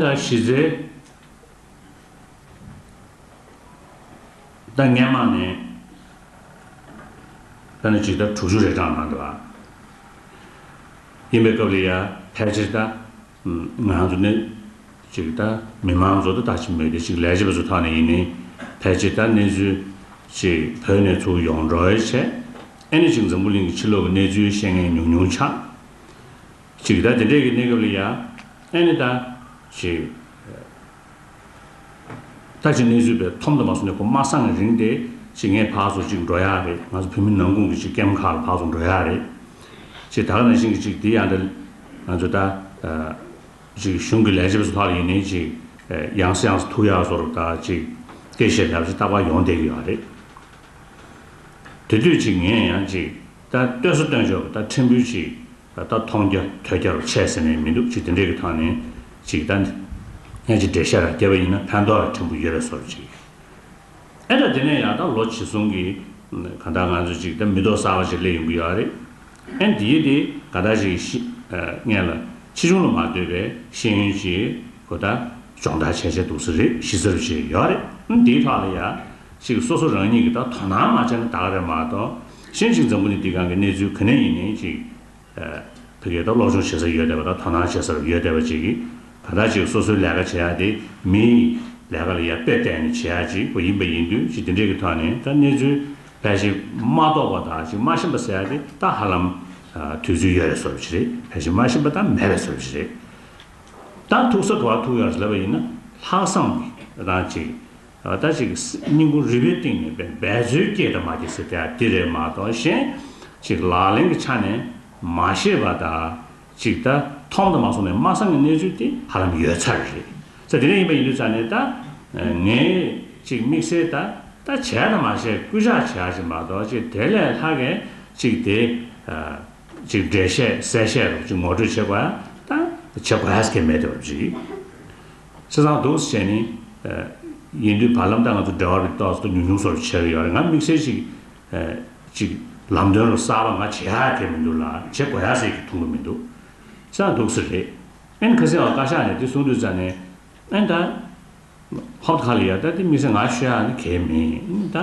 གཞི་རྩའི་ཏང་ཉམས་དམག་ནི་ལྷ་ནི་ཇི་ལྟར་དྲུག་ཅུ་རེ་གྲངས་ནང་དུ་ཡིན་པའི་སྐབས་ལ་ཡང་ཕལ་ཆེར་ད་ང་ཚོ་ནི་ཅིག་ད་མི་མང་ཚོ་ད་ད་ཅིག་མོས་ཏེ་ཅིག་ལས་བྱེད་པ་ཚོ་ཐག་ནས་ཡིན་ནི་ཕལ་ཆེར་ད་གནས་ཚུལ་ཅིག་བོད་ནས་ཚུར་ཡོང་འགྲོ་བའི་ཆེད་ཨེ་ནི་ཅིག་འཛམ་བུ་གླིང་གི་ཕྱི་ལོག་གི་གནས་ཚུལ་ཤེས་མཁན་ཉུང་ཉུང་ཆགས། ཅིག། ད་དེ་འདྲའི་གི་གནས་སྐབས་ལ་ཡང། ཨེ་ནི་ད། ཅིག། ད་ཅིག་གནས་ཚུལ་བས་ཐོམ་དུ་མ་སོང་ནས་ཁོ་མ་སངས་རིང་དེ། ཅིག་ངས་བགས་སུ་ཅིག་འགྲོ་ཡ་རེད་ང་ཚོ་བོད་མི་ནང་ཁུང་གི་ཅིག་སྐེམ་ཁག་ལ་བགས་སུ་འགྲོ་ཡ་རེད། ཅིག་ད་ག་ནང་བཞིན་གི་ཅིག་དེ་ཡང་ད། ང་ཚོ་ད། ཅིག་གཞུང་གི་ལས་བྱེད་པ་ཚོ་ལྷག་ཡིན་ནའི་ཅིག། ཡངས་སུ་ཡངས་སུ་ཐུག་ཡ་བཟོ་རུ་ད་ཅིག། སྐད་བཤད་ལབ་ཅིག་སྟག་པ་ཡོང་བསྡད་ཀྱི་ཡོད་རེད། དེ་དུས་ཅིག་ངས་ཡང་ཅིག། ད་བཏོན་ས་བཏོན་ཆོག་ད་ཁྲིམས་དཔོན་ཅིག་ད་ད་མཐོང་རྒྱ་ཐོས་རྒྱ་རུ་ཆས་ཟེར་ནས་མི་འདུག་ཅིག་དེ་འདྲས་ཀྱི་ཐང་ནས་ཅིག་ད་ནས་ཀྱི་འབྲེལ་བཤད་ར་བསྐྱལ་བ་ཡིན་ན་ཕན་ཐོག་ར་ཕྲན་བུ་ཡོད་རེ་སོར་ཅིག་ཨེ་ད་དེ་ནས་ཡག་ད་ལོ་ཇི་སོང་གི་ག་ད་ང་ཚོ་ཅིག་ད་མི་ཏོག་གསར་བ་ཅིག་ལས་ཡོང་གི་ཡོད་རེད་ཨེ་འདི་ཡི་དེ་ག་ད་ཅིག་ཤི་ངེས་ལ་ཕྱི་ཆུང་ལ་མ་ལྟོས་པའི་ཤེས་ཡོན་ཅིག་གོ་ད་སྦྱོང་བརྡར་བྱས་བྱས་འདུག་ས་རེད་ཤི་ས་རུ་ཅིག་ཡོད་རེད་ཨེ་འདིའི་ཐོག་ལ་ཡག་ཅིག་སོ་སོ་རང་ཉིད་ཀྱི་ད་དོ་སྣང་མ་བྱས་ན་ད་ག་རེ་མ་གཏོགས། གཞན་ཞིག་འཛམ་བུ་ནི་འདི་གང་གི་གནས་ཚུལ་ག་ནས་ཡིན་ནི་ཅིག། ཕི་གེ་ད་སློབ་སྦྱོང་བྱེད་ས་ཡོད་བསྡད་པ་དང་དོ་སྣང་བྱེད་སར་ཡོད་བསྡད་པ་ཅིག་གིས་ད་ལྟ་ཅིག་སོ་སོའི་ལས་ཀ་བྱེད་ཡག་དེ་མིན། ལས་ཀ་ལ་ཡར་དཔེ་བལྟས་ནས་བྱེད་ཡག་ཅིག་པ་ཡིན་པ་ཡིན་དུས་ཅིག་འདི་འདྲས་ཀྱི་ཐོག་ནས་ད་གནས་ཚུལ་ཕལ་ཆེར་མ་རྟོགས་པ་དང་ཅིག་མ་ཤེས་པ་ཟེར་ཡག་དེ་ད་ཧ་ལམ། དུས་ཚོད་ཡོད་རེད་ཟེར་བ་ཞིག་རེད་ཕལ་ཆེར་མ་ཤེས་པ་དང་མེད་རེད་ཟེར་བ་ཞིག་རེད། ད་ཐུག་ས་ག་བ་ཐུག་ཡོད་རེད་ཟེར་བ་ཡིན་ན་ལྷག་བསམ་གྱིས་ད་ཅིག། ལྟ་ཅི་གི་སྲིད་སྙིང་པོ་རིག་པའི་ཏིང་ངེ་འབད་འབད་རྩོལ་སྐྱེས་དང་མ་སྐྱེས་སྲིད་དེ་ཡང་དེ་རེད་མ་གཏོགས་གཞན་ཅིག་ལག་ལེན་གྱི་ཆ་ནས་མ་ཤེས་པ་དང་ཅིག་ད་ཐོག་མཐོང་དང་མ་སོང་བའི་སྨྲ་སངས་ཀྱི་གནས་ཚུལ་དེ་ཧ་ལམ་ཡོད་ཚར་རེད་ཚ་དེ་འདྲ་ཡིན་པ་ཡིན་དུས་ཚ་ནས་ད་ངས་ཅིག་དམིགས་བསལ་ད་ལྟ་བྱས་དང་མ་བྱས་སྐུལ་ལྕག་བྱས་ཡ་ཅིག་མ་གཏོགས་ཅིག་དེ་ལས་ལྷག་གི་ཅིག་དེ་ཅིག་འགྲེལ་བཤད་གསལ་བཤད་རུ་ཅིག་ངོ་སྤྲོད་བྱེད་དགོས་ཡ་ད་བྱེད་དགོས་ཡ་ཟེར་མཁན་མེད་དུ་རེད། ཚེ་བཟང་འདུག་ཟེར་བྱས་ནས། ཡིན་དུས་བར་ལམ་དང་ང་ཚོ་འབྲེལ་བ་རིགས་རྟོག་ཚོགས་ཉུང་ཉུང་སོགས་བྱས་ཡོད་རེད་ང་དམིགས་བསལ་ཞིག། ཅིག། ལམ་སྟོན་རུ་གསར་པ་ང་བྱེད་ཡག་ཐེབས་མི་འདུག་ལ་བྱེད་དགོས་ཡག་ཟེར་གྱི་མཐོང་གི་མི་འདུག། ཚེ་བཟང་འདུག་ཟེར་རེད། ཨན་ཁ་སེ་བ་བཀའ་ཤག་ནས་དེ་གསུང་དུས་ཙ་ནས། ཨན་ད། ཧོབ་ཁ་ལི་ཡ་ད་དེ་དམིགས་བསལ་ང་ཤོད་ཡག་ནི་གལ་མེད་ཨིན་ད།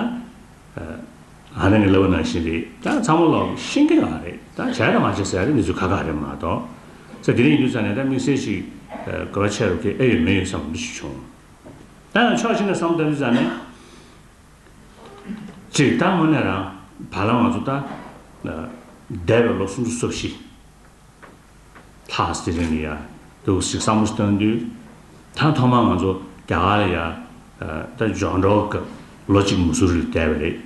ང་རང་གི་ལབ་བ་ནང་བཞིན་རེད་ད་ཚང་མ་ལོག་ཤིང་གི་ནང་རེད་ད་བྱས་དང་མ་བྱས་ཟེར་ཡ་རེད་འདི་ཚོ་ཁ་ཁ་རེད་མ་གཏོགས་ད་དེ་རིང་ཡིན་ཚར་ནས་ད་དམིགས་བསལ་ཞིག་དགོས་པ་ཆེ་རུ་ཁེ་ཨེ་ཡོད་མེད་ཡོད་བསམ་གོམས་གཤིས་བྱུང། ད་ཡང་ཕྱོགས་གཅིག་ནས་བསམ་བསྟར་རིས་བསགས་ནས། གཅིག་ད་དངོས་གནས་རང་བ་ལ་ང་ཚོ་ད་འདས་པའི་ལོ་སུམ་ཅུ་སོ་བཞི། ལྷ་སྲིད་གླིང་གི་ཡར་འདུག་ཞིག་བསམ་བློ་བཏོན་དུས། ད་ཐོག་མར་ང་ཚོ་རྒྱ་གར་ལ་ཡར་ལྟ་འཇོག་འགྲོ་སྐབས་ལོ་གཅིག་མུ་སུ་རི་ལ་བསྡད་པ་རེད།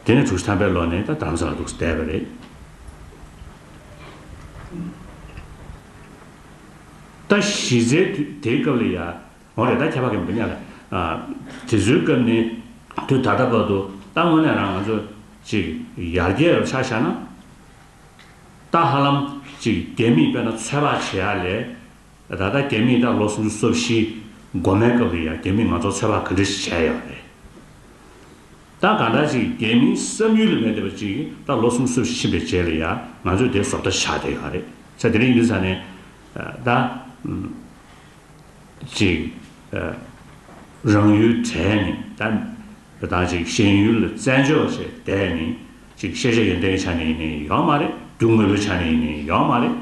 དེ་ནས་དྲུག་བཞི་ཐམ་པའི་ལོ་ནས་ད་དར་མ་ས་ལ་འདུག་བསྡད་པ་རེད། ད་གཞི་རྩའི་དུས་དེའི་སྐབས་ལ་ཡར་འོང་རེད་ད་ཁྱད་པར་གྱི་མི་སྣ་ལ། དེ་ཚོའི་སྐབས་ནས་དུས་ད་ལྟ་བར་དུ་ད་དངོས་གནས་རང་ང་ཚོ་ཅིག་ཡར་རྒྱས་རུ་ཆགས་བཞག་ན། ཏཱ་ཧ་ལམ། གཅིག་རྒྱལ་མིས་དཔེར་ན་ཚོད་དཔག་བྱེད་ཡ་ལས། ད་ལྟ་རྒྱལ་མིས་ད་ལོ་སུམ་ཅུ་སོ་བཞི། འགོ་མའི་སྐབས་རེད་ཡ་རྒྱལ་མིས་ང་ཚོར་ཚོད་དཔག་ག་འདྲ་ཞིག་བྱས་ཡོད་རེད། ད་གང་འདྲ་ཅིག་རྒྱལ་མིའི་བསམ་ཡུལ་ལས་མེད་བསྡད་པ་ཅིག་ད་ལོ་སུམ་ཅུ་སོ་བཞི་ཕྱིན་པའི་རྗེས་རེད་ཡ་ང་ཚོས་དེ་བཟོ་ལྟ་བཞག་བསྡད་ཡོད་རེད་ཚེ་དེ་རིང་འདི་ས་ནས། ད། གཅིག། རང་ཡུལ་གྲལ་ནས་ད། དེ་དང་གཅིག་ཤེས་ཡུལ་ལ་བཙན་འཇོག་བྱས་དེ་ནི་གཅིག་ཤེས་བྱ་ཡོན་ཏན་གྱི་ཆ་ནས་ཡིན་ནའི་ཡང་མ་རེད་རྒྱུ་དངོས་པོའི་ཆ་ནས་ཡིན་ནའི་ཡང་མ་རེད།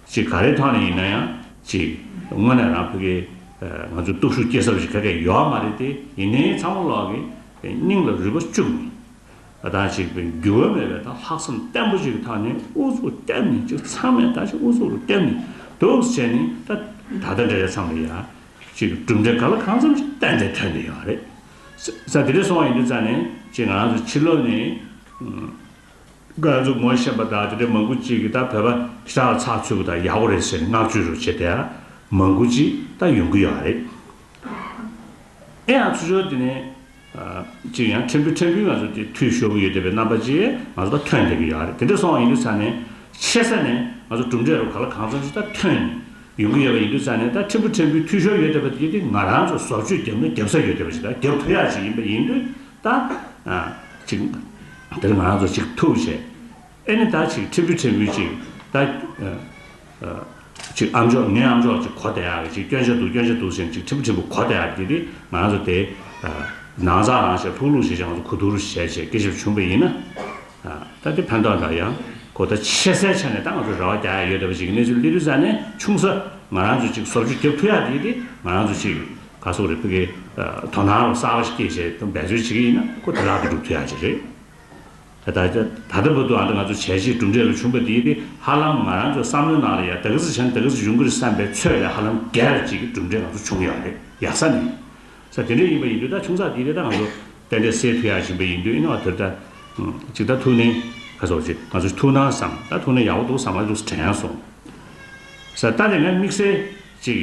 གཅིག་ག་རེའི་ཐོག་ནས་ཡིན་ན་ཡང་གཅིག་དངོས་གནས་རང་ཕི་གའི་ང་ཚོའི་སྟོབས་ཤུགས་སྐྱེ་ས་བ་ཞིག་ག་གེ་ཡང་མ་རེད་དེ་ཡིན་ནའི་ཚ་མོ་ལགས་ཀྱི་སྙིང་ལ་རུས་པ་བཅུག་ནས་དེ་དང་གཅིག་པའི་རྒྱུ་བ་མེད་པའི་དང་ལྷག་བསམ་བརྟན་པོ་ཞིག་གི་ཐོག་ནས་ཨུ་ཚུགས་བརྟན་ནས་གཅིག་ཚང་མས་ད་ཅིག་ཨུ་ཚུགས་རུ་བརྟན་ནས་འདུག་བྱས་ནས་ད་ད་ལྟ་འདྲ་བྱས་ཚང་མས་ཡང་གཅིག་གྲུབ་འབྲས་ག་ལ་གང་འཚམ་ཞིག་གཏན་ནས་ཐོན་འདི་ཡོད་རེད། ས་དེ་རིང་སོང་ཡིན་དུས་རྩ་ནས་ཅི་ང་ཚོ་ཕྱི་ལོག་ནས་ང་ཚོ་ངོ་ཤེས་པ་དང་དེ་འདྲའི་མང་པོ་ཅིག་གིས་ད་བོད་པ་ཞི་དྲག་ལ་ཚགས་ཚུད་པ་དང་ཡག་པོ་རེད་ཟེར་ནས་བསྔགས་བརྗོད་རུ་བྱེད་དེ་མང་པོ་ཅིག་ད་ཡོང་གི་ཡོད་རེད། ཨེ་ཡང་ཚུར་ཤོར་དེ་ནས་ཅིག་ཡང་ཕྲན་བུ་ཕྲན་བུའི་ང་ཚོ་དེ་འཐུས་ཤོར་གི་ཡོད་དེ་བའི་རྣམ་པ་ཅིག་ང་ཚོ་ད་ཐོན་བསྡད་ཀྱི་ཡོད་རེད་དེ་འདྲ་སོང་ཡིན་དུས་རྩ་ནས་ཆེ་ས་ནས་ང་ཚོ་གྲུབ་འབྲས་རུ་ག་ལ་གང་ཚང་ཞིག་ད་ཐོན་ཡོང་གི་ཡོད་པ་ཡིན་དུས་ཙང་ནས་ད་ཕྲན་བུ་ཕྲན་བུའི་འཐུས་ཤོར་ཡོད་བསྡད་པ་དེ་དེ་ང་རང་ཚོ་ཟོག་བཅོས་བརྒྱབ་ན་བརྒྱབ་ས་ཡོད་བསྡད་པ་ཞིག་དང་བརྒྱབ་ཐུ་ཡག་ཅིག་ཡིན་པ་ཡིན་དུས་ད། ཅིག། དེར་ང་རང་ཚོ་ཅིག་ཐུགས་བྱས། ཨེ་ནི་ད་ཅིག་ཕྲན་བུ་ཕྲན་བུའི་ཅིག་ད། ཅིག་ཨམ་ཅོག་ངའི་ཨམ་ཅོག་ཅིག་གོ་བསྡད་ཡག་གི་ཅིག་སྐྱོན་ཆ་འདུག་སྐྱོན་ཆ་འདུག་ཟེར་ནས་ཅིག་ཕྲན་བུ་ཕྲན་བུ་གོ་བསྡད་ཡག་གི་དེ་དེ་ང་རང་ཚོ་དེ། ནང་ཚགས་ནང་བཤད་ལྷུག་ལྷུག་བཤད་བྱས་ང་ཚོ་གོ་ཐུག་རུ་བྱས་བྱས་སྐད་ཆ་བྱུང་བ་ཡིན་ན། ད་ལྟའི་ཕན་ཐོགས་དག་ཡང་གོ་བརྡ་ཆེ་སའི་ཆ་ནས་ད་ང་ཚོར་ར་བ་རྒྱག་ཡ་ཡོད་བསྡད་པ་ཞིག་གི་གནས་ཚུལ་གླེ་རུལ་ས་ནས་ཆུང་ས་ང་རང་ཚོ་ཅིག་སོབ་ཆུ་རྒྱབ་ཐུ་ཡག་དེ་ཡིན་ཏེ་ང་རང་ཚོ་ཅིག་ག་སོག་རི་ཕུ་གའི་དོ་སྣང་རོ་གསར་བ་ཞིག་སྐྱེད་བྱེད་དུ་འབད་རྩོལ་བྱེད་ཀྱི་ཡིན་ན་ཁོ་དེ་ལག་ཏུ་སྒྲུབ་ཐུ་ཡག་ཅིག་རེད་ད། ད་ལྟ་བར་དུ་ཨ་འདྲ་ང་ཚོ་བྱས་རྗེས་གྲུབ་འབྲས་ལ་ཆུང་བ་དེ་ཡིན་ཏེ་ཧ་ལམ་ང་རང་ཚོའི་བསམ་བློའི་ནང་ལ་ཡང་ད་གི་ཟི་བྱ་ནི་ད་གི་ཟི་འབྱུང་གི་རེད་བསམ་པའི་ཚོད་ལས་ཧ་ལམ་རྒྱལ་ཅིག་གི་གྲུབ་འབྲས་ང་ཚོ་བྱུང་ཡོད་རེད་ཡག་ས་ནི་ས་དེ་འདྲས་ཡིན་པ་ཡིན་དུས་ད་ཆུང་ས་དེའི་རེ་ད་ང་ཚོ་རྟེན་འབྲེལ་སེལ་ཐུ་ཡ་བཞིན་པའི་ཡིན་དུས་ཨེ་ན་བ་དེར་ད། ཅིག་ད་ཐུག་ནས་ཁ་སོགས་ཅིག་ང་ཚོ་ཐུག་ན་བསམ་ད་ཐུག་ནས་ཡག་པོ་འདུག་བསམ་ང་ཚོ་ལུགས་དྲན་སོང། ས་ད་ནས་ང་དམིགས་བསལ་ཅིག།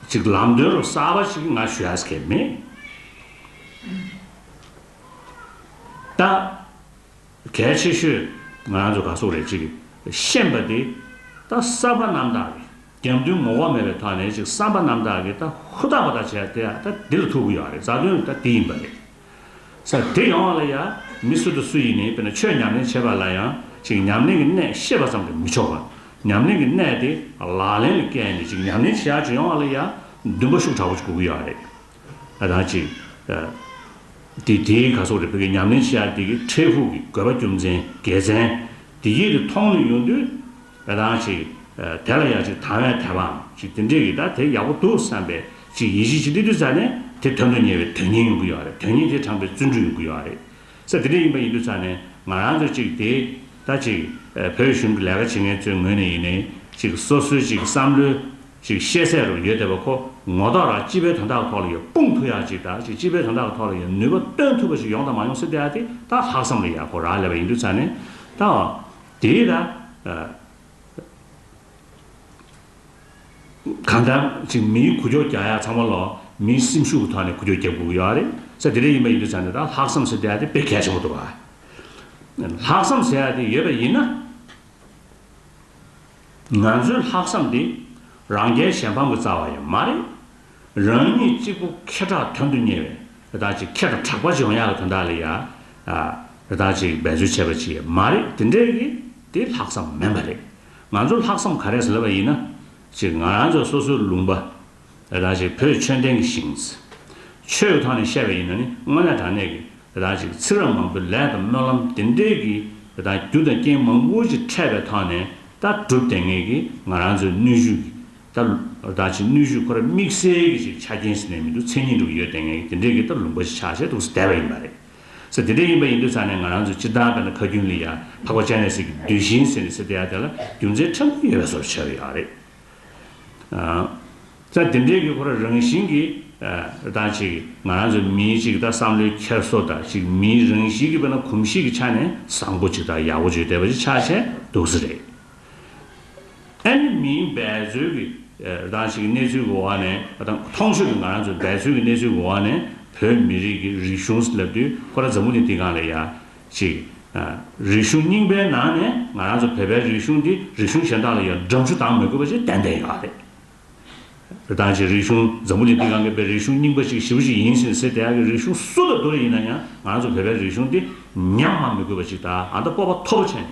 ཅིག་ལམ་སྟོན་རོགས་གསར་པ་ཅིག་ང་ཞུ་ཡ་ས་ཁེལ་མེད། ད། གལ་ཆེ་ཤོས་ང་རང་ཚོ་ག་སོགས་རེད་ཅིག་ཤེས་པ་དེ་ད་གསར་པ་རྣམ་དག་རེད། དགེ་འདུན་ངོ་བོ་མེད་པའི་ཐོག་ནས་ཅིག་བསམ་པ་རྣམ་དག་གིས་ད་ཧུར་ཐག་པ་དག་བྱས་ཏེ་ད་དེ་ལ་ཐུག་གི་ཡོད་རེད་རྩ་དོན་ད་དེ་ཡིན་པ་རེད། ས་དེ་ཡོང་བ་ལ་ཡ། མི་སུ་དང་སུ་ཡིན་ནས་དཔེར་ན་ཆོས་ཉམས་ལེན་བྱེད་པ་ལ་ཡང་ཅིག་ཉམས་ལེན་གྱི་གནད་ཤེས་པ་ཙམ་གྱིས་མི་ཆོག་པར་ཉམས་ལེན་གྱི་གནད་དེ་ལག་ལེན་ལ་བཀལ་ནས་ཅིག་ཉམས་ལེན་བྱེད་ཡག་ཅིག་ཡོང་བ་ལ་ཡ། འདུན་པ་ཤུགས་དྲག་པོ་ཅིག་དགོས་གི་ཡོད་རེད། ད་ཐང་ཅིག་དེ་དེའི་ག་སོགས་རེད་བོད་ཀྱི་ཉམས་ལེན་བྱེད་ཡག་དེ་གི་འཕྲལ་ཕུགས་ཀྱི་དགོས་པ་རྒྱུ་མཚན་དགེ་མཚན་དེ་ཡིད་དུ་མཐོང་ནས་ཡོང་དུས་ཨེ་ཐང་ཅིག། དེ་ལ་ཡང་ཅིག་དང་བས་དེ་བའང་ཅིག་དེ་འདྲས་ཡོད་ད་དེ་ཡག་པོ་འདུག་བསམ་པས་ཅིག་ཡིད་གཞི་ཅིག་ཏིག་ཏིག་ཚ་ནས་དེ་དོན་དུ་གཉེར་བའི་དོན་སྙིང་ཡོང་གི་ཡོད་རེད་དོན་སྙིང་དེ་དྲངས་པའི་བརྩོན་འགྲུས་ཡོང་གི་ཡོད་རེད། ས་དེ་འདྲས་ཡིན་པ་ཡིན་དུས་ཚ་ནས་ང་རང་ཚོས་ཅིག་དེ་ད་ཅིག་བོད་གཞུང་གི་ལས་ཀ་བྱེད་མཁན་ཚོའི་ངོས་ནས་ཡིན་ནས་ཅིག་སོ་སོའི་ཅིག་བསམ་བློའི་ཅིག་ཤེས་ཚད་རུ་ཡོད་དེ་བ་ཁོ་ངོ་ཐོག་ལ་སྤྱི་པའི་དོན་དག་གི་ཐོག་ལ་ཡོད་དཔུང་ཐུག་ཡག་ཅིག་ད་ཅིག་སྤྱི་པའི་དོན་དག་གི་ཐོག་ལ་ཡོད་ནུས་པ་བཏོན་ཐུབ་པ་ཅིག་ཡོང་དང་མ་ཡོང་སྲིད་དེ་ཡ་དེ་ད་ལྷག་བསམ་ལ་ཡག་གོ་རག་ལས་པ་ཡིན་དུས་ཚ་ནས་ད། དེས་ན། གང་ལྟར། ཅིག་མིའི་ཁུ་བྱོག་རྒྱག་ཡ་ཚང་མ་ལ། མིའི་སེམས་ཤུགས་ཀྱི་ཐོག་ནས་ཁུ་བྱོག་རྒྱག་དགོས་ཡོད་རེད། ས་དེ་རེད་ཡིན་པ་ཡིན་དུས་ཚང་ནས་ད་ལྷག་བསམ་ཟེར་བསྡད་ཡ་དེ་དཔེ་གལ་ཆེན་པོ་འདུག་བ། ལྷག་བསམ་ཟེར་ཡ་དེ་ཡོད་པ་ཡིན་ན། ང་ཚོའི་ལྷག་བསམ་དེ། རང་རྒྱལ་གཞན་ཕམ་གྱི་རྩ་བ་ཡང་མ་རེད། རང་ཉིད་གཅིག་པུ་ཁེ་གྲགས་དོན་དུ་གཉེར་བའི་རི་དྭགས་ཅིག་ཁྱེད་དང་གྲགས་པ་ཅིག་འོང་ཡག་གི་དོན་དག་ལ་ཡ། རི་དྭགས་ཅིག་འབད་རྩོལ་བྱས་པ་ཅིག་མ་རེད་དེ་འདྲའི་གི་དེ་ལྷག་བསམ་མིན་པ་རེད། ང་ཚོ་ལྷག་བསམ་ག་རེ་ཟེར་བ་ཡིན་ན། ཅིག་ང་རང་ཚོ་སོ་སོའི་ལུང་པ། རི་དྭགས་ཅིག་བོད་ཆོས་ལྡན་གི་ཞིང། ཆོས་ཀྱི་ཐོག་ནས་བཤད་པ་ཡིན་ན་ནི་དངོས་གནས་དྲང་གནས་གི་རི་དྭགས་ཅིག་ཚིག་རབ་མང་པོའི་ལས་དང་སྨོན་ལམ་དེ་འདྲའི་གི་རི་དྭགས་རྒྱུ་དང་རྐྱེན་མང་པོ་ཅིག་ཕྲད་པའི་ཐོག་ནས་ད་གྲུབ་དེ་ངེས་གི་ང་རང་ཚོའི་ནུས་ཤུགས་ཀྱི་ལྟར་རོ། ད་ཅིག་ནུས་ཤུགས་ཁོ་ར་དམིགས་བསལ་གྱི་ཞིག་ཆ་རྐྱེན་ཟིན་ནས་མི་འདུག་མཚན་ཉིད་འགྲུབ་ཡོད་ལྟས་ངན་གྱི་དེ་འདྲས་ཀྱི་ལྟར་ལུང་པ་ཞིག་ཆགས་བྱས་འདུག་ཟླས་པ་ཡིན་པ་རེད། ས་དེ་འདྲས་ཡིན་པ་ཡིན་དུས་ཚང་ནས་ང་རང་ཚོས་སྤྱིར་བཏང་བལྟ་ན་ཁ་རྒྱུན་ལི་ཡ་འཕགས་པ་ལྕགས་ནས་གསེར་གྱི་རྡུལ་བཞིན་ཟེར་ནས་ས་དེ་ཡ་དེ་ལ་རྒྱུ་མཚན་ཕྲ་མོ་ཡོད་པའི་བཟོ་བྱས་པ་ཡག་རེད། ས་དེ་འདྲས་ཀྱི་ཁོ་ར་རང་བཞིན་གྱི་ད་ཅིག་ང་རང་ཚོ་མིའི་ཅིག་ལྟར་བསམ་བློའི་འཁྱེར་བཟོ་ད་ཅིག་མིའི་རང་གཤིས་ཀྱི་བལྟ་ན་གོམས་གཤིས་ཀྱི་ཆ་ནས་བཟང་པོ་ཅིག་དང་ཡག་པོ་ཅིག་བལྟས་པ་ཞིག་ཆགས་བྱས་འདུག་ཟེར་རེད། ཨེ་ནི་མིན་འབད་རྩོལ་གྱི་རང་ཞིག་གནས་ཚུལ་གྱི་འོག་ནས་དང་མཐོང་ཆོས་ཀྱི་ང་རང་ཚོ་འབད་རྩོལ་གྱི་གནས་ཚུལ་གྱི་འོག་ནས་བོད་མི་རིགས་ཀྱི་རིག་གཞུང་ལབ་དུས་ཁོ་ར་འཛམ་བུ་ནི་འདི་གང་ལ་ཡ། ཅིག། རིག་གཞུང་རྙིང་པའི་ནང་ནས་ང་རང་ཚོ་བོད་པའི་རིག་གཞུང་འདི་རིག་གཞུང་གཞན་དག་ལ་ཡང་འགྲམ་ཆུ་དྭངས་མི་དགོས་པ་ཞིག་ཏན་ཏན་ཡོད་རེད། དང་ཅིག་རིག་གཞུང་འཛམ་བུ་ནི་འདི་གང་གི་བའི་རིག་གཞུང་རྙིང་པ་ཞིག་ཞི་བ་ཞིག་ཡིན་ཟིན་ཟེར་དེ་ཡ་གི་རིག་གཞུང་སུ་ལ་བསྡུ་རེ་ཡིན་ན་ཡང་ང་རང་ཚོ་བོད་པའི་རིག་གཞུང་འདི་ཉམས་དམའ་མི་དགོས་པ་ཞིག་དང་ཨ་མདའ་སྤོབས་པ་མཐོ་པོ་བྱས་ནས་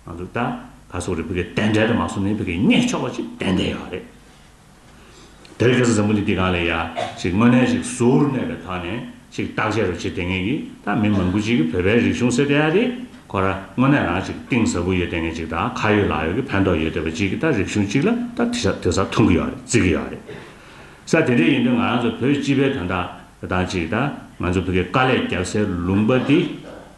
ང་ཚོ་ད་ག་སོག་རེད་བོད་སྐད་ཏན་ཏན་རེད་མ་སོ་ནའི་བོད་སྐད་སྙད་ཆོག་པ་ཅིག་ཏན་ཏན་ཡོད་རེད་དེར་སྐད་ས་བཟང་པོ་འདི་དེ་ག་ལ་ཡག་ཅིག་དངོས་གནས་ཅིག་ཟུར་གནས་པའི་ཐག་ནས་ཅིག་བརྟག་དཔྱད་རུ་བྱེད་དེ་ངེས་ཀྱི་ད་མི་མང་པོ་ཅིག་གི་བོད་པའི་རིག་གཞུང་སེ་བསྡད་ཡ་རེད་ཁོ་ར་དངོས་གནས་རང་ཅིག་གཏིང་ཟབ་པོ་ཡོད་དེ་ངེས་ཅིག་ད་ཁ་ཡོད་ལག་ཡོད་ཀྱི་ཕན་ཐོག་ཡོད་དེ་བ་ཅིག་གི་ད་རིག་གཞུང་ཅིག་ལ་ད་དེ་ས་དེ་ས་མཐོང་གི་ཡོད་རེད་བརྩི་གི་ཡོད་རེད་ས་དེ་འདྲས་ཡིན་དུས་ང་རང་ཚོ་བོད་སྤྱི་པའི་དོན་དག་དང་ཅིག་ད་ང་ཚོ་བོད་སྐད་དཀའ་ལས་རྒྱབ་སའི་ལུང་པ་དེ་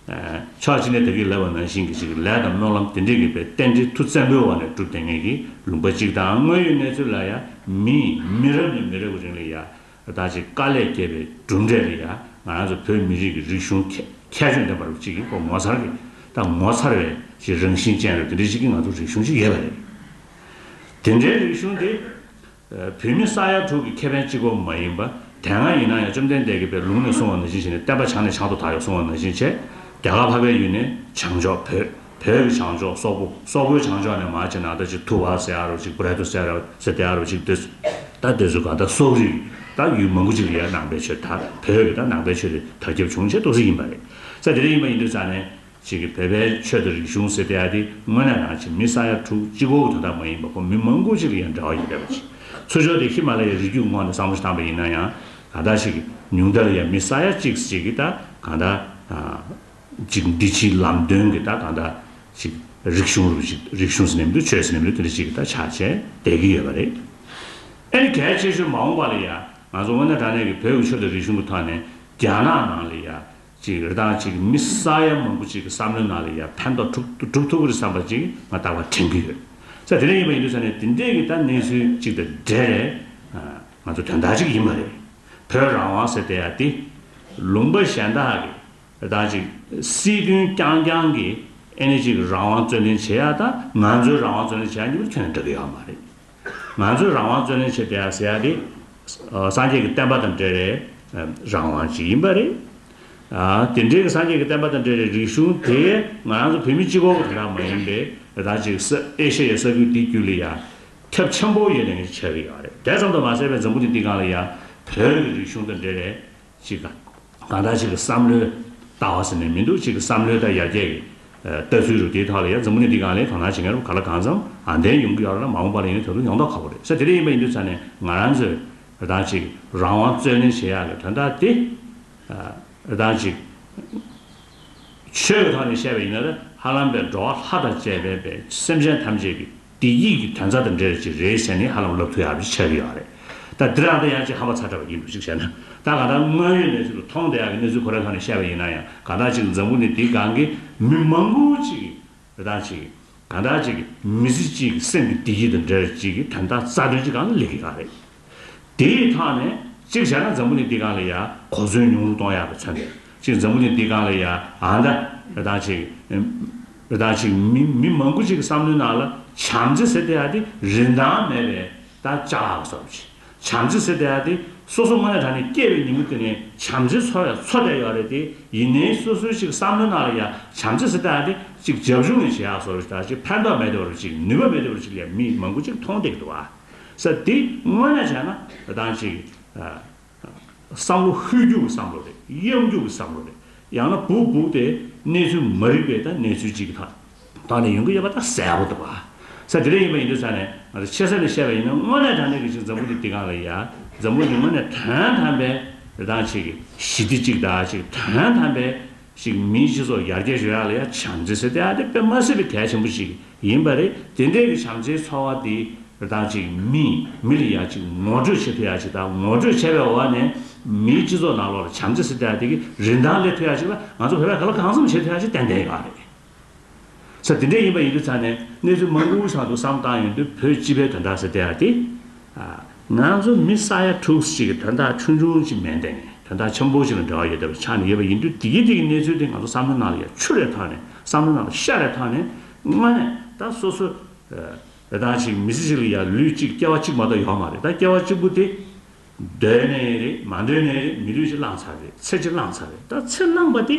ཕྱག་གཅིག་ནི་དེ་གི་ལས་བ་ནང་བཞིན་གྱི་གཅིག་གི་ལས་དང་སྨོན་ལམ་དེ་འདྲས་གྱིས་པའི་རྟེན་འབྲེལ་མཐུ་བཙན་པོའི་བར་ནས་གྲུབ་སྟེ་ངེད་ཀྱིས་ལུང་པ་གཅིག་དང་དངོས་ཡོད་གནས་ཚུལ་ལ་ཡང་མི་མི་རབས་ནས་མི་རབས་ཀྱི་རིང་ལ་ཡང་དག་ཅིག་དཀའ་ལས་བསྐྱལ་པའི་གྲུབ་འབྲས་ལ་ཡང་ང་རང་ཚོ་བོད་མི་རིགས་ཀྱི་རིག་གཞུང་ཁྱད་ཆོས་ལྡན་པ་རུ་གཅིག་གིས་ངོ་མཚར་གྱི་དང་ངོ་མཚར་བའི་ཅིག་རང་བཞིན་ཅན་རུ་དེ་འདྲས་ཅིག་གི་ང་ཚོ་རིག་གཞུང་ཅིག་ཡོད་པ་རེད། དེ་འདྲའི་རིག་གཞུང་དེ། བོད་མི་ས་ཡ་དྲུག་གི་ཁེ་ཕན་གཅིག་པོ་མ་ཡིན་པ་དེ་སྔ་ཡིན་ན་ཡང་བཅོམ་ལྡན་འདས་ཀྱི་བའི་ལུང་ནས་གསུང་བ་ནང་བཞིན་བྱས་ནས་བསྟན་པ་བྱང་ནས་བྱང་དུ་དར་ཡོད་གསུང་བ་ནང་བཞིན་བྱས། རྒྱ་གར་ལྷ་པའི་ཡུལ་ནས་བྱང་ཕྱོགས་བོད། བོད་ཀྱི་བྱང་ཕྱོགས་སོག་པོ། སོག་པོའི་བྱང་ཕྱོགས་ནས་མ་ཅིག་ནཱ་ད་ཅིག་ཐུ་བ་སེ་ཨ་རོ་ཅིག་པུ་རཱི་ཏུ་སེ་ར་སེ་ཏེ་ཨ་རོ་ཅིག་དེ། ད་དེ་ཚོ་ག་ད་སོག་རིགས་ད་ཡུལ་མང་པོ་ཅིག་ལ་ཡར་ནང་པའི་ཆོས་དར་བོད་ཀྱི་ད་ནང་པའི་ཆོས་དེ་དར་ཁྱབ་བྱུང་བྱས་གཏོགས་སུ་ཡིན་པ་རེད། ས་དེ་རིགས་ཡིན་པ་ཡིན་དུས་ས་ནས། གཅིག་གིས་བོད་པའི་ཆོས་དང་རིག་གཞུང་ཟེར་དེ་ཨ་དེ་དངོས་གནས་ནང་བཞིན་མི་ས་ཡ་དྲུག་གཅིག་གོ་དོན་དག་མ་ཡིན་པ་ཁོ་མི་མང་པོ་ཞིག་ལ་ཡང་འདྲ་བ་ཡོད་པས་པ་ཅི། ཚུར་ཤོག་དེ་ཧི་མ་ལ་ཡའི་རི་རྒྱུད་ངོགས་ནས་བསམ་བློ་བཏང་པ་ཡིན་ན་ཡང་གང་དག་ཞིག་གིས་ཉུང་མཐར་ཡང་མི་ས་ཡ་གཅིག་གཅིག་གིས་ད་གང་དག་ཅིག་འདི་ཕྱིའི་ལམ་སྟོན་གྱི་ད་གང་དག་ཅིག་རིག་གཞུང་རུ་ཞིག་རིག་གཞུང་ཟེར་ནས་མི་འདུག་ཆོས་ཟེར་ནས་མི་འདུག་དེ་འདྲ་ཞིག་གིས་ད་ཆ་བྱས་བསྡད་ཀྱི་ཡོད་པ་རེད། ཨ་ནི་གལ་ཆེ་ཤོས་མ་འོངས་པ་ལ་ཡང་ང་ཚོ་དངོས་གནས་དྲང་གནས་ཀྱི་བོད་ཀྱི་ཆོས་དང་རིག་གཞུང་གི་ཐོག་ནས་རྒྱ་ནག་ནང་ལ་ཡང་ཅིག་རེ་དང་ཅིག་མི་ས་ཡ་མང་པོ་ཅིག་གི་བསམ་བློའི་ནང་ལ་ཡར་ཕན་ཐོགས་གྲུབ་ཐུབ་ཀྱི་རེད་བསམ་པ་ཅིག་ང་ད་བར་དྲན་གྱི་ཡོད། ས་དེ་འདྲ་ཡིན་པ་ཡིན་དུས་ས་གནས་དེ་འདྲའི་གི་ད་གནས་ཚུལ་ཅིག་དང་འབྲེལ་ནས། ང་ཚོ་དོན་དག་ཅིག་ཡིན་པ་རེད། བོད་རང་དབང་ཟེར་དེ་ཡ་དེ། ལུང་པ་གཞན་དག་གི་རེ་དང་ཅིག་སྲིད་དོན་རྐྱང་རྐྱང་གི་ཨེ་ནས་ཅིག་རང་དབང་རྩོད་ལེན་བྱེད་ཡ་དང་ང་ཚོའི་རང་དབང་རྩོད་ལེན་བྱེད་ཡ་གཉིས་པོ་ཁྱོན་ནས་འདྲ་གི་ཡོད་མ་རེད། ང་ཚོས་རང་དབང་བརྩོན་ལེན་བྱེད་བསྡད་ཟེར་ཡ་དེ། སངས་རྒྱས་ཀྱི་བསྟན་པ་དང་འབྲེལ་བའི་རང་དབང་ཅིག་ཡིན་པ་རེད། དེ་འབྲེལ་གྱི་སངས་རྒྱས་ཀྱི་བསྟན་པ་དང་འབྲེལ་བའི་རིག་གཞུང་དེ་ང་རང་ཚོ་བོད་མི་སྤྱི་བོ་བོ་དེ་དག་མ་ཡིན་པའི་རེ་ད་ཅིག་ས་ཨེ་ཤ་ཡའི་ས་ཁུལ་དེ་བརྒྱུད་ལ་ཡ་ཁྱབ་ཆེན་པོ་ཡོད་ནས་ཡང་བྱས་ཀྱི་ཡོད་རེད་དེ་ཙམ་དུ་མ་ཟད་པའི་འཛམ་བུ་གྱི་སྟེང་གང་ལ་ཡང་བོད་ཀྱི་རིག་གཞུང་དང་འབྲེལ་བའི་ཅིག་དང། གང་དག་ཅིག་གི་བསམ་བློའི་ལྟ་བ་ཟེར་ནས་མི་འདུག་ཅིག་གི་བསམ་བློའི་ལྟ་ཡར་རྒྱས་ཀྱི་ལྟ་ཚུལ་རུ་དེའི་ཐོག་ལ་ཡ་འཛམ་བུ་ནི་འདི་གང་ལས་གང་ན་ཇི་འགར་ག་ལ་གང་འཚམ་ཨང་དན་ཡོང་གི་ཡོད་ར་ལ་མ་འོངས་པ་ལ་ཡིན་ན་ད་དུང་ཡོང་མདོག་ཁ་བོ་རེད་ས་དེ་རིགས་ཡིན་པ་ཡིན་དུས་ཚར་ནས་ང་རང་ཚོས་རེ་དང་ཅིག་རང་དབང་རྩོད་ལེན་བྱེད་ཡག་གི་དོན་དག་དེ་རེ་དང་ཅིག་ཆོས་ཀྱི་ཐོག་ནས་བཤད་པ་ཡིན་ན་ར་ཧ་ལམ་པའི་འགྲོ་བ་ལྷ་དང་བཅས་པའི་པའི་སེམས་ཅན་ཐམས་ཅད་ཀྱི། དེ་ཡིག་གི་དོན་རྩ་དང་འབྲེལ་རེད་ཅེས་རེད་བཤད་ནས་ཧ་ལམ་ལབ་ཐུག་ཡག་པོ་ཅིག་ཆགས་ཀྱི་ཡོད་རེད། ད་འདིར་ཨ་ཏི་ཡང་ཅིག་ཧ་བ་ཚ་དྲགས་པ་ཡིན་འདུག་གཅིག་བྱས་ན། ད་གང་ལྟར་དངོས་ཡོད་གནས་ཚུལ་ལ་ཐོག་མཐའ་ཡག་གི་གནས་ཚུལ་གོ་རེ་ལྷག་ནས་བཤད་པ་ཡིན་ན་ཡང་གང་དག་ཅིག་འཛམ་བུ་ནི་དེའི་སྒང་གི་མི་མང་པོ་ཅིག་གི་རེ་དང་ཅིག་གི་གང་དག་ཅིག་གི་མི་ཚེ་ཅིག་གི་སེམས་ཀྱི་བདེ་སྐྱིད་དང་འབྲེལ་ཅིག་གི་དོན་དག་རྩ་དོན་གྱི་སྒང་ལ་ལེགས་ཀྱི་ཡོད་རེད། དེ་ཡི་ཐག་ནས། གཅིག་བྱས་ན་འཛམ་བུ་གླིང་དེ་ག་ལ་ཡ། གོ་མཚོན་ཉུང་རུ་གཏོང་ཡག་པའི་མཚོན་དེ། གཅིག་འཛམ་བུ་གླིང་དེ་ག་ལ་ཡ། ཨ་མདའ། རི་དྭགས་ཅིག། རི་དྭགས་ཅིག། མི་མི་མང་པོ་ཅིག་གི་བསམ་བློའི་ནང་ལ། བྱམས་བརྩེ་ཟེར་དེ་ཡ་དེ་རིན་ཐང་མེད་པའི། ད་ཅག་ལ་བསམ་བྱས། བྱམས་བརྩེ་ཟེར་དེ་ཡ་དེ། སོ་སོ་དངོས་གནས་དྲ་ནས་སྐྱེས་པའི་ཉིན་མོ་དེ་ནས་བྱམས་བརྩེ་འཚོ་བའི་འཚོ་བསྡད་ཡོད་རེད་དེ། ཡིན་ནའི་སོ་སོའི་ཅིག་བསམ་བློའི་ནང་ལ་ཡ། བྱམས་བརྩེ་ཟེར་དེ་ཡ་དེ། ཅིག་རྒྱབ་ལྗོངས་ནས་བྱས་ཡག་བཟོ་རུ་ད་ཅིག་ཕན་ཐོགས་མེད་དེ་བ་རུ་ཅིག་ནུས་པ་མེད་དེ་བ་རུ་ཅིག་ལས་མི་མང་པོ་ཅིག་མཐོང་བསྡད་ཀྱི་འདུག་ཨ། ས་དེ་དངོས་ནས་བྱས་ན་དང་ཅིག་བསམ་བློ་ཧུད་རྒྱུག་གི་བསམ་བློ་རེད་གཡམ་རྒྱུག་གི་བསམ་བློ་རེད་ཡང་ན་བུག་བུག་སྟེ་གནས་ཚུལ་མ་རིག་པའི་ད་གནས་ཚུལ་ཅིག་ད་ད་ནས་ཡོང་གི་ཡོད་པ་ད་གསལ་བོ་འདུག་ས་དེ་རེད་ཡིན་པ་ཡིན་དུས་ས་ནས་ང་ཚོ་ཆེ་ས་ནས་བཤད་པ་ཡིན་ན་དངོས་ནས་དང་ནས་གི་ཅིག་འཛམ་བུ་འདི་འདི་གང་ལ་ཡ་འཛམ་བུ་འདི་དངོས་ནས་དོན་དམ་པའི་དང་ཅིག་ཞི་བདེ་ཅིག་ད་ཅིག་དོན་དམ་པའི་ཞིག་མིའི་སྤྱི་ཚོགས་ཡར་རྒྱས་ཡོད་ཡག་ལ་ཡང་བྱམས་བརྩེ་ཟེར་ཏེ་ཨ་དེ་དཔེ་མ་སྲིད་པའི་གལ་ཆེན་པོ་ཞིག་ཡིན་པ་རེད་དེ་འདྲའི་གི་བྱམས་བརྩེའི་ཚོར་བ་དེ་དག་ཅིག་མིས་མི་ལ་ཡག་ཅིག་ངོ་སྤྲོད་བྱེད་ཐུ་ཡག་ཅིག་དང་ངོ་སྤྲོད་བྱས་པའི་འོག་ནས་མིའི་སྤྱི་ཚོགས་ནང་ལོགས་ལ་བྱམས་བརྩེ་ཟེར་ཏེ་ཨ་དེ་གི་རིན་ཐང་སླེབས་ཐུ་ཡག་ཅིག་ལ་ང་ཚོ་བོད་པས་ག་ལ་གང་འཚམ་བྱེད་ཐུ་ཡག་ཅིག་ཏན་ཏན་ཡོད་པ་རེད། ས་དེ་འདྲས་ཡིན་པ་ཡིན་དུས་ཚང་ནས་གནས་ཚུལ་མང་པོའི་བྱང་དུ་བསམ་བཏང་ཡོང་དུས་བོད་སྤྱི་པའི་དོན་དག་ཟེར་དེ་ཡ་དེ། ང་ཚོ་མི་ས་ཡ་དྲུག་གཅིག་གི་དོན་དག་ཆུང་ཆུང་ཅིག་མེད་འདས་ནས་དོན་དག་ཆེན་པོ་ཞིག་ལ་འབྲེལ་བ་ཡོད་སྡད་པ་ཆགས་ནས་ཡོད་པ་ཡིན་དུས་དེ་གི་དེ་གི་གནས་ཚུལ་དེ་ང་ཚོ་བསམ་བློའི་ནང་ལ་ཡ་ཆུ་རེ་ཐག་ནས་བསམ་བློའི་ནང་ལ་ཤ་རེ་ཐག་ནས་སྔ་ནས་ད་སོ་སོ་རེ་ད་ཅིག་མི་ཚེ་ཞིག་ལ་ཡ་ལུས་གཅིག་སྐྱེ་བ་གཅིག་མ་གཏོགས་ཡོང་མ་རེད་ད་སྐྱེ་བ་གཅིག་པུ་དེ་འདོད་ནས་རེད་མ་འདོད་ནས་རེད་མི་ལུས་གཅིག་བླངས་ཚར་རེད་ཚེ་གཅིག་བླངས་ཚར་རེད་ད་ཚེ་བླངས་པ་དེ།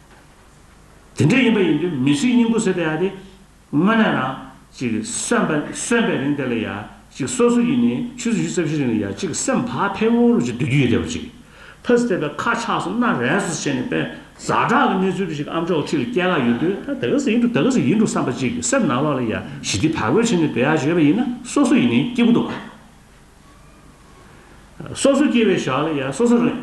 དེ་འདྲ་ཡིན་པ་ཡིན་དུས་མི་ཞིག་སྙིང་པོ་ཟེར་ཏེ་ཡག་སྟེ། དངོས་གནས་རང། ཅིག་གསོན་པ་གསོན་པའི་རིང་དེ་ལ་ཡག། ཅིག་སོ་སོ་ཡིན་ནས་ཆུ་ཚོད་བཞི་རྩ་བཞི་རིང་ལ་ཡག་ཅིག་སེམས་བག་ཕེབས་བོ་རུ་ཅིག་སྡོད་རྒྱུ་ཡོད་དེ་བ་ཅིག། ཕ་སི་ཐེ་བའི་ཁ་ཆགས་སུ་སྣ་རལ་སོ་བྱས་ནས་དཔེ་ཟ་དྲག་གི་གནས་ཚུལ་དུ་ཞིག་ཨམ་ཅོག་ཁྲི་ལ་སྐྱེལ་ཁ་ཡོད་དུས་ད་ག་ཟེ་ཡིན་འགྲོ་ད་ག་ཟེ་ཡིན་འགྲོ་བསམ་པ་ཅིག་སེམས་ནང་ལོག་ལ་ཡག་ཞི་བདེ་བག་ཕེབས་བྱས་ནས་སྡོད་ཡག་བྱས་པ་ཡིན་ན་སོ་སོ་ཡིན་ནས་སྐྱིད་པོ་འདུག། སོ་སོ་སྐྱེ་བའི་ཞག་ལ་ཡང་སོ་སོ་རང།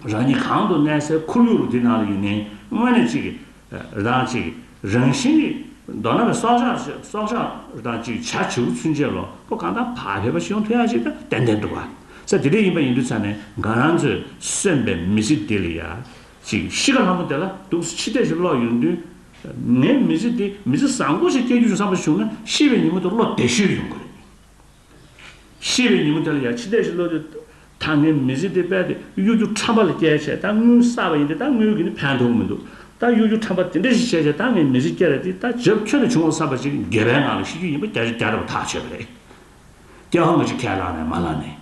རང་ཉིད་གང་དུ་གནས་སའི་ཁོར་ཡུག་དེ་ནང་ལ་ཡུན་ནན་སྔོན་ནས་ཅིག་རང་ཅིག་རང་བཞིན་གྱིས་མདོར་ན་བའི་སྲོག་ཆགས་ཆེ་སྲོག་ཆགས་དང་ཅིག་ཆ་བྱེའུ་ཚུན་ཆད་ལོ་པོ་གང་དང་བག་ཕེབས་པ་ཞིག་ཡོང་ཐུ་ཡང་ཅིག་ཏན་ཏན་འདུག་བ་ས་དེ་འདྲས་ཡིན་པ་ཡིན་དུས་ཚར་ནས་འགའ་རང་ཚོས་གསོན་པའི་མི་ཚེ་དེ་ལ་ཡང་ཅིག་གཤིས་ཀ་ལྷ་མོ་དེ་ལ་སྡུག་ས་ཕྱི་བལྟས་ཤིག་བློ་ཡོང་དུས། ངའི་མི་ཚེ་འདི་མི་ཚེ་བཟང་པོ་ཞིག་སྐྱེལ་རྒྱུ་ཡིན་བསམ་པ་བྱུང་ན་ཤི་བའི་ཉིན་མོ་དེ་བློ་བདེ་ཤོས་ཡོང་གི་རེད། ཤེས་པའི་ཉིན་མོ་དེ་ལ་ཡང་འཆི་ལྟས་ཤིག་བློ་དེ། ད་ངས་མི་ཟིག་དེ་རྦད་དེ་གཡོ་སྒྱུ་ཁྲམ་པ་ལ་སྐྱེལ་བྱས་ད་དངུལ་བསགས་པ་ཡིན་ཏེ་ད་དངུལ་གྱིས་ནི་ཕན་ཐོགས་མི་འདུག་ད་གཡོ་སྒྱུ་ཁྲམ་པ་དེ་འདྲ་ཞིག་བྱས་བྱས་ད་ངས་མི་ཟིག་སྐྱེལ་བས་དེ་ད་ཇབ་ཁྱོད་ལ་བྱུང་བ་བསམ་པ་ཞིག་དགེ་བའི་ངང་ལ་ཤི་རྒྱུ་ཡིན་པ་རྒྱ་ཆ་རྒྱ་དྲགས་པ་ཐག་ཆོད་པ་རེད། སྐྱེལ་བ་ངེད་ཀྱིས་ཁས་བླངས་ནས་མ་བླངས་ནས།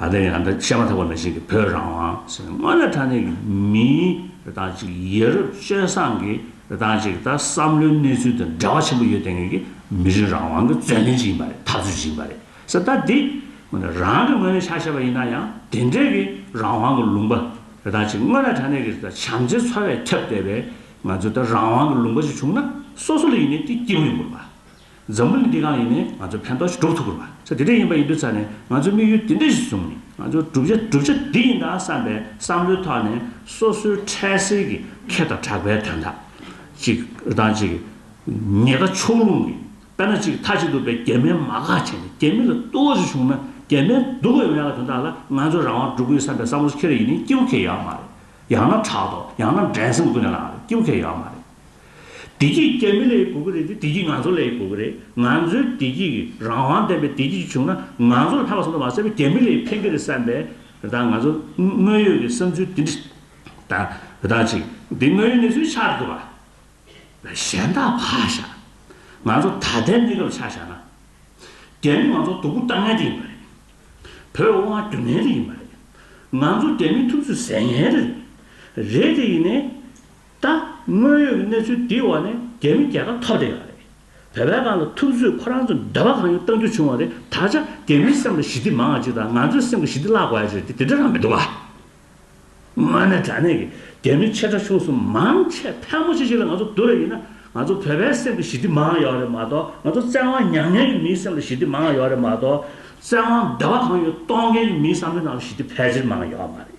ད་ལྟ་ཡང་འདི་བཤད་མ་ཐག་པ་མི་ཞིག་གིས་བོད་རང་དབང་ཟེར་ནས་སྔོན་ལ་ད་ནས་ཀྱི་མིའི་རི་དྭགས་ཅིག་ཡེ་རུབ་སྤྱོད་བཟང་གི་རི་དྭགས་ཅིག་ད་བསམ་བློའི་གནས་ཚུལ་དང་འབྲེལ་བ་ཆེན་པོ་ཡོད་ལྟ་ངེས་ཀྱི་མི་རིགས་རང་དབང་གི་བརྩོན་ལེན་ཅིག་ཡིན་པ་རེད་འཐབ་རྩོད་ཅིག་ཡིན་པ་རེད་ཟེར་ད་འདི་ངོ་ནས་རང་གི་ངོས་ནས་ཆ་ཤས་པ་ཡིན་ན་ཡང་དེ་འདྲའི་གི་རང་དབང་གི་ལུང་པ་རི་དྭགས་ཅིག་སྔོན་ལ་ད་ནས་ཀྱི་ད་བྱམས་བརྩེའི་འཚོ་བས་ཁྱབ་བསྡད་པའི་ང་ཚོའི་ད་རང་དབང་གི་ལུང་པ་ཅིག་བྱུང་ན་སོ་སོ་ལ་ཡིན་ནའི་དེ་སྐྱིད་པོ་ཡོང་དགོས་པ། འཛམ་བུ་གླིང་འདི་གང་ཡིན་ནས་ང་ཚོས་ཕན་ཐོགས་ཤིག་སྒྲུབ་ཐུབ་དགོས་པ་ཚེ་འདི་འདྲ་ཡིན་པ་ཡིན་དུས་ཚར་ནས་ང་ཚོས་དམིགས་ཡུལ་འདི་འདྲ་ཞིག་བཟུང་ནས་ང་ཚོའི་བསྒྲུབ་བྱ་བསྒྲུབ་བྱ་འདི་ཡིན་ད་བསམ་པའི་བསམ་བློའི་ཐོག་ནས་སོ་སོའི་འཕྲལ་སེལ་གྱི་ཁེ་དང་གྲགས་པའི་དོན་དག་ཅིག་རི་ཐང་ཅིག་ཉེ་དགའ་ཕྱོགས་ལྷུང་གི་དཔེ་ན་ཅིག་མཐའ་གཅིག་ཏུ་བའི་རྒྱ་མིའི་མ་ག་བྱས་ནས་རྒྱ་མི་ལ་བསྟོད་བསྔགས་ཅིག་བྱུང་ན་རྒྱ་མའི་སྡུག་བའི་མེ་ལ་དོན་དག་ལ་ང་ཚོས་རང་དབང་སྒྲུབ་དགོས་བསམ་པའི་བསམ་བློ་ཁེ་རེ་ཡིན་ནས་སྐྱིད་པོ་ཁེ་ཡོད་མ་རེད་ཡང་ན་ཕྲག་དོག་ཡང་ན་འགྲན་སེམས་ཀུན་ནས་ལངས་རེད་སྐྱིད་པོ་ཁེ་ཡོད་མ་རེད། བདེ་སྐྱིད་རྐྱེན་མི་ལས་དགོས་ཀྱི་རེད་དེ་བདེ་སྐྱིད་ང་ཚོ་ལས་དགོས་ཀྱི་རེད་ང་ཚོའི་བདེ་སྐྱིད་ཀྱི་རང་དབང་ལྡན་པའི་བདེ་སྐྱིད་ཅིག་བྱུང་ན་ང་ཚོ་ལ་ལྷག་པ་ཟེར་མདོག་མ་བྱས་པའི་རྐྱེན་མི་ལས་ཕན་གྱི་རེད་བསམ་པའི་དང་ང་ཚོ་དངོས་ཡོད་ཀྱི་བསམ་ཚུལ་དེ་འདྲི་དང་དང་ཅིག་འདི་དངོས་ཡོད་གནས་ཚུལ་ཆགས་དགོས་པ། གཞན་དག་ཕ་བཞག་ང་ཚོ་ད་ལྟའི་གནས་སྐབས་ཆ་བཞག་ན་རྒྱ་མི་ང་ཚོ་སྡུག་པོ་བཏང་ངན་དེ་ཡིན་པ་རེད་བོད་དབང་བསྒྱུར་ངན་དེ་ཡིན་པ་རེད་ང་ཚོ་རྒྱ་མི་ཐུབ་ཚོད་ཟེར་ངན་རེད་རེད་དེ་ཡིན་ནའི། ད་དངོས་ཡོད་ཀྱི་གནས་ཚུལ་དེའི་འོག་ནས་རྒྱ་མི་རྒྱལ་ཁ་ཐོབ་བསྡད་ཡོད་རེད། བོད་པའི་སྒང་ལ་ཐུབ་ཚོད་ཁོ་རང་ཚོ་འདོད་པ་གང་ཡོད་བཏང་རྒྱུ་བྱུང་བ་རེད་ད་ཆ་རྒྱ་མིའི་སེམས་ལ་ཞི་བདེ་མང་བ་ཅིག་དང་ང་ཚོའི་སེམས་ཀྱི་ཞི་བདེ་བརླག་དགོས་ཡ་རེད་དེ་དེ་འདྲ་རང་མི་འདུག་བ། དངོས་གནས་དྲ་གནས་ཀྱི་རྒྱ་མི་ཆེ་ཕྲ་ཆུང་གསུམ་མང་ཆེ་ཕལ་མོ་ཆེ་ཞིག་ལ་ང་ཚོ་བསྡུར་བ་ཡིན་ན་ང་ཚོ་བོད་པའི་སེམས་ཀྱི་ཞི་བདེ་མང་ཡོད་རེད་མ་གཏོགས་ང་ཚོ་བཙན་དབང་མྱངས་མྱངས་ཀྱི་མིའི་སེམས་ལ་ཞི་བདེ་མང་ཡོད་རེད་མ་གཏོགས་བཙན་དབང་འདོད་པ་གང་ཡོད་གཏོང་མཁན་གྱི་མིའི་བསམ་བློའི་ནང་ལ་ཞི་བདེ་ཕལ་ཆེར་མང་ཡོད་མ་རེད།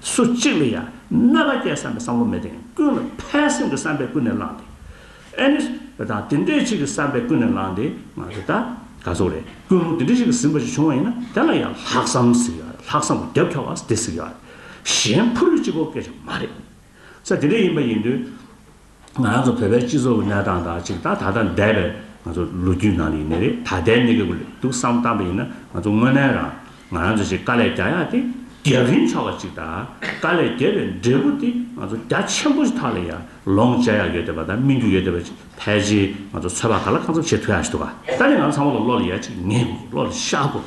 སུ་གཅིག་ལ་ཡང་གནོད་པ་སྐྱེད་བསམ་པའི་བསམ་བློ་མེད་དེ་ཀུན་ལ་ཕན་སེམས་ཀྱི་བསམ་པས་ཀུན་ནས་བསླངས་ཏེ། ཨཱནི། རེ་དང་དེ་འདྲས་ཆིག་གི་བསམ་པས་ཀུན་ནས་བསླངས་ཏེ་ང་རེ་ད་ག་ཚོགས་རེ་ཀུན་ལུང་དེ་འདྲས་ཆིག་གི་ཟིན་པ་ཞིག་བྱུང་བ་ཡིན་ན་དེ་ལ་ཡང་ལྷག་བསམ་ཟེར་གི་ཡོད་རེད་ལྷག་བསམ་གྱི་རྒྱབ་འཁྱོག་བ་དེ་ཟེར་གི་ཡོད་རེད་གཞན་ཕུ་ལུས་གཅིག་པོ་སྐད་ཆ་མ་རེད། ས་དེ་འདྲས་ཡིན་པ་ཡིན་དུས། ང་རང་ཚོ་བོད་པའི་སྤྱི་ཚོགས་ཀྱི་གནས་སྟངས་དང་གཅིག་ད་ད་ལྟ་འདས་པའི་ང་ཚོ་ལོ་རྒྱུས་ནང་ཡིན་ནི་རེད་ད་ལྟའི་གནས་སྐབས་ལས་སྡུག་བསམ་བཏང་པ་ཡིན་ན་ང་ཚོ་དངོས་གནས་རང་ང་རང་ཚོ་ཞིག་དཀའ་ལས་རྒྱག་ཡག་ཏེ་རྒྱབ་རིང་ཕྱོགས་པ་ཅིག་དང་དཀའ་ལས་རྒྱབ་པའི་འབྲས་བུ་དེ་ང་ཚོ་རྒྱ་ཆེན་པོ་ཞིག་ཐག་ལ་ཡང་ལོངས་སྤྱད་ཡག་ཡོད་འདོད་པ་དང་སྨིན་རྒྱུ་ཡོད་འདོད་པ་ཅིག་ཕལ་ཆེར་ང་ཚོ་ཚོད་དཔག་ག་ལ་གང་འཚམ་བྱེད་ཐུབ་ཡག་ཞིག་འདུག་ག་ད་ནི་ང་ཚོ་ཚང་མ་ལ་བློ་ལ་ཡ་ཅིག་ངེས་དགོས་བློ་ལ་ཤ་དགོས།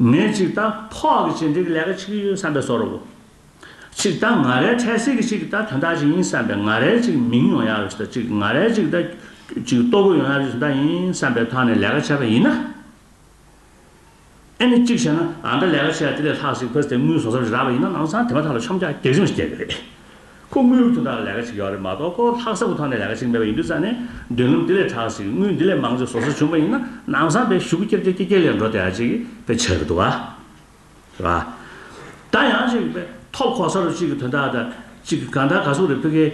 ངས་གཅིག་ད་ཕོག་གི་བྱེད་འབྲེལ་གྱི་ལས་ཀ་ཆིག་ཡོད་བསམ་པའི་བཟོ་རོ། གཅིག་ད་ང་རལ་འཕྲལ་སེལ་གྱི་ཅིག་ད་དོན་དག་ཅིག་ཡིན་བསམ་པའི་ང་རལ་ཅིག་མིང་ཡོང་ཡག་རེད་ད་ཅིག་ང་རལ་ཅིག་ད་ཅིག་ལྟོ་གོས་ཡོང་ཡག་རེད་ཟེར་ད་ཡིན་བསམ་པའི་ཐོག་ནས་ལས་ཀ་བྱས་པ་ཡིན་ན། ཨེ་ནི་གཅིག་བྱས་ན་ཨ་མདའ་ལས་ཀ་བྱས་ཡག་དེ་ལས་ལྷག་ཟིག་ཕོད་ཟེར་དངུལ་བཟོ་ས་རེ་རག་པ་ཡིན་ན་ནང་ཚང་དེ་མ་ཐག་ལ་ཆོམ་རྒྱག་རྒྱག་ཆོམ་ཞིག་བསྐྱལ་གི་རེད། ཁོ་དངུལ་དུ་ཐང་ལས་ཀ་བྱེད་ཀྱི་ཡོག་རེད་མ་གཏོགས་ཁོ་ལྷག་བསམ་དུ་ཐང་ནས་ལས་ཀ་བྱེད་ཀྱི་མེད་པ་ཡིན་དུས་ས་ནས་འདོན་ལམ་འདི་ལས་དྲག་ཅིག་དངུལ་འདི་ལས་མང་ཅིག་བཟོ་སྲོལ་བྱུང་པ་ཡིན་ན་ནང་བཟང་པའི་ཞུགས་ཀྱེར་ཀྱེར་ཀྱེར་ཀྱེར་ལས་འགྲོ་བདེ་བ་ཅིག་པའི་ཆེད་རེད་འདུག་བ། རེད་བ། ད་ཡང་ཅིག་པའི་ཐོབ་ཁོག་ས་རུ་ཅིག་གི་དོན་དག་དང་ཅིག་གི་གང་དག་ག་ཟུག་རེད་ཕི་གེ།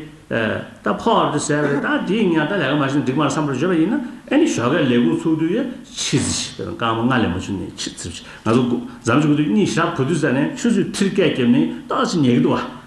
ད་ཕོག་རེད་ཟེར་བ་རེད་ད་དེའི་ངང་ད་ལས་ཀ་མ་བྱེད་ན་འགྲིག་མར་བསམ་པར་བརྗོད་པ་ཡིན་ན་ཨེ་ནི་ཞོག་ཁའི་ལས་ཁུངས་ཚུགས་དུས་ཡ་ཕྱི་ཟི་ཞིག་དང་རྐང་མ་ལྔ་ལས་མ་བྱུང་ནས་ཕྱི་ཟི་ཞིག་ང་ཚོ་འཛམ་གྱི་དགུ་དུས་གཉིས་ཞག་བུ་དུས་ས་ནས་ཆུ་ཚོད་ཁྲིར་སྐད་བརྒྱབ་ནས་ཏག་ཅིག་ཉལ་གྱི་འདུག་བ།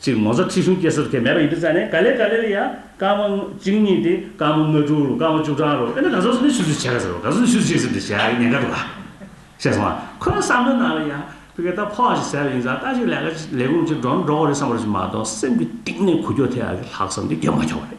གཅིག་མོ་ཟ་ཁྲི་ཤུང་སྐྱེ་སོར་ཁེ་མེད་པ་ཡིན་དུ་བཙལ་ནས་ག་ལེ་ག་ལེ་ལ་ཡང་སྐར་མ་གཅིག་གཉིས་ཏེ་སྐར་མ་ལྔ་དྲུག་ལོ་སྐར་མ་བཅུ་གྲངས་རོ་དཔེར་ན་ག་ཟུར་ནས་ཤུར་ཤུར་བྱས་ག་ཟེར་རོ་ག་ཟུར་ནས་ཤུར་ཤུར་བྱས་ཟེར་དུ་བྱས་ཉེན་ཁ་འདུག་ག། ཤེས་སོང་ང་ཁོ་ནའི་བསམ་བློའི་ནང་ལ་ཡང་ཕི་ཀའི་ད་ཕོ་བ་ཞིག་ཟེར་བ་ཡིན་ཙང་ལྟ་ཞིག་ལས་ཀ་ལས་ཁུངས་ཅིག་འགྲོ་ན་འགྲོ་གོ་རེད་བསམ་པ་རེ་ཞིག་མ་གཏོགས་སེམས་ཀྱི་གཏིང་ནས་གུ་ཁྱོ་དེ་ཡང་ལྷག་བསམ་དེ་རྒྱབ་མ་ཆོག་པ་རེད།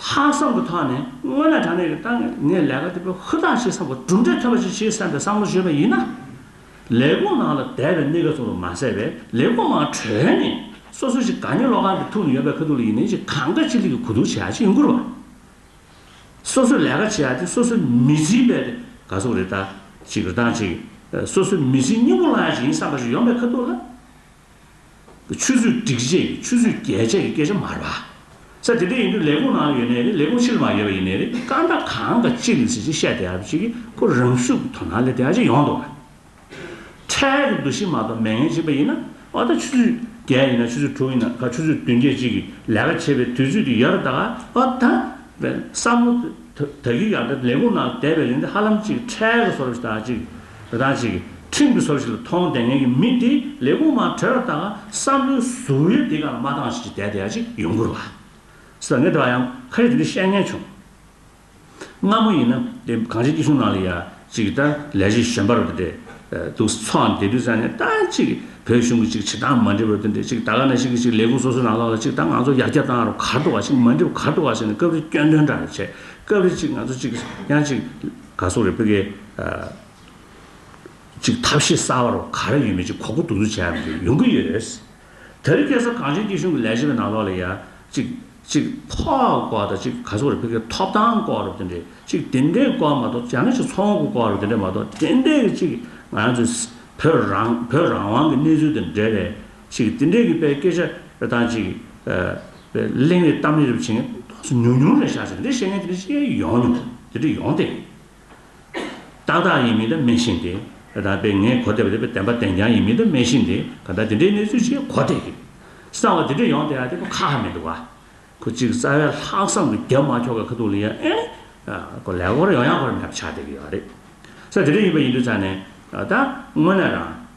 ལྷག་བསམ་གྱི་ཐོག་ནས་དངོས་གནས་དྲང་གནས་ཀྱི་ཏང་གི་ངས་ལས་ཀ་དེ་བས་ཧུར་ཐག་བྱེད་བསམ་པ་གྲུབ་འབྲས་ཐོན་པ་ཞིག་བྱེད་བསམ་པའི་བསམ་བློ་བཞེས་པ་ཡིན་ན། ལས་ཁུངས་ནང་ལ་དད་པའི་གནས་སྐབས་ཚོགས་རུ་མ་ཟད་པའི་ལས་ཁུངས་ནང་གྲོལ་ནས་སོ་སོ་ཞིག་དགའ་ཉེ་བློ་ཁང་གི་ཐུགས་ནས་ཡོད་པའི་ཁ་ཐུག་ལ་ཡིན་ནའི་ཞིག་གང་དགའ་ཅི་ལེགས་ཀྱི་གོ་བསྡུར་བྱེད་ཡག་ཅིག་ཡིན་དགོས་རེད་པ། སོ་སོས་ལས་ཀ་བྱེད་ཡག་དེ་སོ་སོའི་མི་ཚེའི་དཔལ་དེ་དགའ་ཚོགས་རེ་ལྟ་ཅིག་རེ་བཏང་ཅིག་སོ་སོའི་མི་ཚེའི་སྙིང་བོ་བླངས་ཡག་ཅིག་ཡིན་བསམ་པ་ཞིག་ཡོང་པའི་ཁ་ཐུག་ལ། ཆུད་ཟོས་སྒྲིག་ཆས་ཀྱི་ཆུད་ཟོས་རྒྱལ་ཆ་ཡི་སྐད་ཆ་མ་རེད་པ། ས་དེ་འདྲ་ཡིན་དུས་ལས་ཁུངས་ནང་ཡོད་ནའི་རེད་ལས་ཁུངས་ཕྱི་ལ་མ་ཡོད་པ་ཡིན་ནའི་རེད་སྐར་མདའ་གང་དང་ཅི་ཡིན་ཟེར་གྱི་བཤད་བསྡད་ཡ་བྱེད་ཀྱི་ཁོ་རང་ཤུགས་ཀྱི་དོ་སྣང་ལས་དེ་ཨ་ཅེ་ཡོང་འདུག་ཨ། འཕྲལ་གྱི་འདུ་ཤེས་མ་གཏོགས་མེད་ངན་བྱེད་པ་ཡིན་ན་ཨོ་ད་ཆུད་ཟོས་བརྒྱད་ཡིན་ན་ཆུད་ཟོས་དྲུག་ཡིན་ན་ག་ཆུད་ཟོས་བདུན་བརྒྱད་ཅིག་གིས་ལས་ཀ་བྱེད་པའི་དུས་ཚོད་ཀྱི་ཡོད་རེད་ད་གའ་ཨོ་ད། བསམ་བློ་དེ་དག་གིས་ཡང་དགྲ་ལས་ཁུངས་ནང་བསྡད་པའི་རིང་དེ་ཧ་ལམ་ཅིག་འཕྲལ་གྱི་སོར་བཞི་དང་ཅིག་དེ་དག་ཅིག། ཁྲིམས་ཀྱི་སྲོལ་ཞིག་ལ་མཐོང་ལྡན་མཁན་གྱི་མི་དེས་ལས་ཁུངས་མང་གྲོལ་བ་དང་བསམ་བློའི་གཟུ་བོའི་སྡེ་ག་ལ་མ་བཏང་ཞིག་ཅིག་བསྡད་དེ་ཡ་ཅིག་ཡོང་གུར་བ། ཟེར་མཁན་དེ་བ་ཡང་ཁ་ཡོད་དེ་འདྲའི་བཤད་ཉན་བྱུང། སྔ་མོ་ཡིན་ན་དེ་གངས་ཅན་སྐྱིད་གཤོངས་ནང་ལ་ཡ་ཅིག་གིས་ད་ལས་བྱེད་གཞན་པ་རུ་དེ་འདྲས་འདུག་ཚོགས་འདེ་དུས་ཙམ་ནས་ད་ཅིག་བོད་གཞུང་གི་ཅིག་བྱེད་སྟངས་མ་འདྲེས་པ་རུ་དེ་འདྲས་ཅིག་ད་ག་ནས་ཞིག་གིས་ཅིག་ལས་ཁུངས་སོ་སོའི་ནང་ལོགས་ལ་ཅིག་ད་ང་ཚོ་ཡར་རྒྱ་བཏང་རུ་གར་འགྲོ་བ་ཞིག་མ་འདྲེས་པ་གར་འགྲོ་བ་ཞིག་ནས་སྐབས་རེ་སྐྱོན་འདོན་འདྲ་རེ་བྱས་སྐབས་རེ་ཅིག་ང་ཚོ་ཅིག་ཡ་ཅིག་ག་སོགས་རེད་བོད་སྐད། ཅིག་ཐབས་ཤེས་གསར་བ་རུ་ག་རེ་ཡོད་མེད་ཅིག་གོ་གོ་ལྡུག་ལྡུག་བྱས་ཡག་མི་འདུག་ཡོང་གི་ཡོད། དེ་རིང་སྐད་གསར་གངས་ཅན་སྐྱིད་གཤོངས་ཀྱི་ལས་བྱེད་པའི་ནང་ལོགས་ལ་ཡ། ཅིག། ཅིག་ཕོག་སྐོར་དང་ཅིག་ག་སོགས་རེད་བོད་སྐད་ཐོབ་ཐང་སྐོར་རུ་དེ་འདྲས་ཅིག་དེ་འདྲས་སྐོར་མ་གཏོགས་ཅང་ནེ་ཅིག་ཚོང་དགོས་སྐོར་རུ་དེ་འདྲས་མ་གཏོགས་དེ་འདྲས་ཀྱི་ཅིག་ང་ཚོས་བོད་རང་བོད་རང་དབང་གི་གནས་ཚུལ་དང་འབྲེལ་བའི་ཅིག་འདི་འདྲའི་གི་པའི་སྐད་ཆ་རེ་དང་ཅིག་གླེང་རེ་གཏམ་རེ་རེ་བྱེད་མཁན་དོགས་སོ་ཉུང་ཉུང་རེ་བཞག་ཟེར་འདི་བཤད་མཁན་དེ་འདྲ་ཅི་ཡོང་མྱོང་དེ་འདྲ་ཡོང་སྟེ། ཏག་ཏག་ཡིན་མིན་དེ་སྨྲས་ཤིང་དེ་རེ་དང་པའི་ངས་གོ་བདེ་བ་དེ་བདེན་པ་བདེན་རྐྱང་ཡིན་མིན་དེ་སྨྲས་ཤིང་དེ་ག་འདྲ་དེ་འདྲའི་གནས་ཚུལ་ཅིག་གོ་བདེ་གི། གསང་བ་དེ་འདྲ་ཡོང་སྟེ་ཡ་དེ་ཁོ་ཁ་ཧ་མི་འདུག་ག། ཁོ་ཅིག་རྩ་བའི་ལྷག་བསམ་དུ་རྒྱབ་མ་ཁྱོག་གི་ཁ་ཐུག་ལ་ཡ་ཨེ། ཁོ་ལས་སྒོར་ཡོང་ཡང་སྒོར་མེད་པ་ཆགས་བསྡད་གི་ཡོད་རེད། ས་དེ་འདྲ་ཡིན་པ་ཡིན་དུས་ཚར་ནས་ད་དངོས་གནས་རང།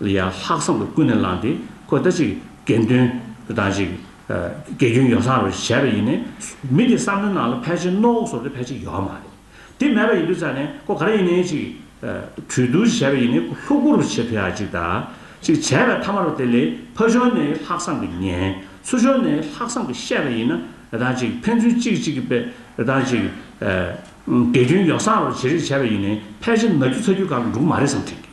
ལ་ཡང་ལྷག་བསམ་དུ་ཀུན་ནས་བསླངས་ཏེ་ཁོས་ལྟ་ཅིག་དགེ་འདུན་དང་ཅིག་དགེ་སྐྱོན་ཡོ་བསྲང་རོགས་ཞེས་བྱས་པ་ཡིན་ནས། མི་དེའི་བསམ་བློའི་ནང་ལ་ཕལ་ཆེར་རྣོ་འོག་སོར་དེ་ཕལ་ཆེར་ཡོད་མ་རེད། དེ་མེད་པ་ཡིན་དུས་ཙང་ནས་ཁོ་ག་རེ་ཡིན་ནའི་ཅིག་གྲོས་བསྡུར་ཞེས་བྱས་པ་ཡིན་ནས་ཁོ་ལྷུག་པོར་བྱེད་ཕོད་ཡ་ཅིག་དང་ཅིག་བྱས་པའི་མཐའ་མ་རོ་དེ་ལས་ཕ་ཕྱོགས་ནས་ལྷག་བསམ་གྱི་ཉན། སུ་ཕྱོགས་ནས་ལྷག་བསམ་གྱི་བཤད་པ་ཡིན་ན་དང་ཅིག་ཕན་ཚུན་གཅིག་གཅིག་གི་པས་དང་ཅིག་དགེ་སྐྱོན་ཡོ་བསྲང་རོགས་ཞེས་རེ་བྱས་པ་ཡིན་ནས་ཕལ་ཆེར་ན་རྒྱུ་ཚ་རྒྱུ་གང་གི་འབྲུག་མ་རེད་བསམ་ཁྲིད་ཀྱི།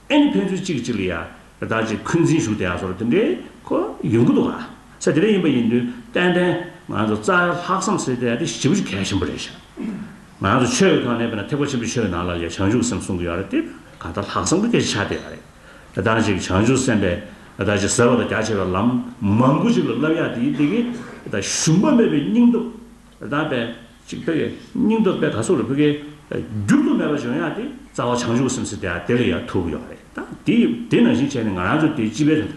ཨེ་ནི་ཕན་ཚུན་གཅིག་གིས་གཅིག་ལ་ཡ། བདག་ཅེས་འཁོན་འཛིན་ཞུགས་དེ་ཡ་སོགས་དེ་འདྲའི་ཁོ་ཡོང་གི་འདུག་ག་ཚད་དེ་འདྲ་ཡིན་པ་ཡིན་དུས་ཏན་ཏན་ང་ཚོ་རྩ་བའི་ལྷག་བསམ་སེལ་ཐད་དེ་ཞིབ་གལ་ཆེན་པོ་རེད་ཞུ། ང་ཚོ་ཆོས་ཀྱི་ཐོག་ནས་བལྟས་ན་ཐེག་པ་ཆེན་པོའི་ཆོས་ནང་ལ་ལས་བྱང་ཆུབ་སེམས་གསུང་གི་ཡོད་རེད་དེ་ག་ལྟར་ལྷག་བསམ་གྱི་གལ་ཆེ་ཆ་དེ་ཡ་རེད། བདག་ཅེས་བྱང་ཆུབ་སེམས་པས་བདག་ཅེས་ཟེར་བ་དང་རྒྱ་ཆེ་བའི་ལམ་མང་པོ་ཞིག་ལ་བསླབ་ཡ་དེ་ཡིན་དེ་གས་བདག་ཞུམ་པ་མེད་པའི་སྙིང་སྟོབས་དང་པན་གཅིག་ཕེར་གའི་སྙིང་སྟོབས་པད་ག་སོགས་ལ་ཕུལ་གྱི། འགྱུར་དུ་མེད་པ་བྱོན་ཡག་དེ་རྩ་བ་བྱང་ཆུབ་སེམས་སེ་དེ་ལ་ཡང་ཐུག་གི་ཡོད་རེད་ད། དེ་དེ་ནང་བཞིན་བྱས་ནས་ང་རང་ཚོ་དེ་སྤྱི་པའི་རིན་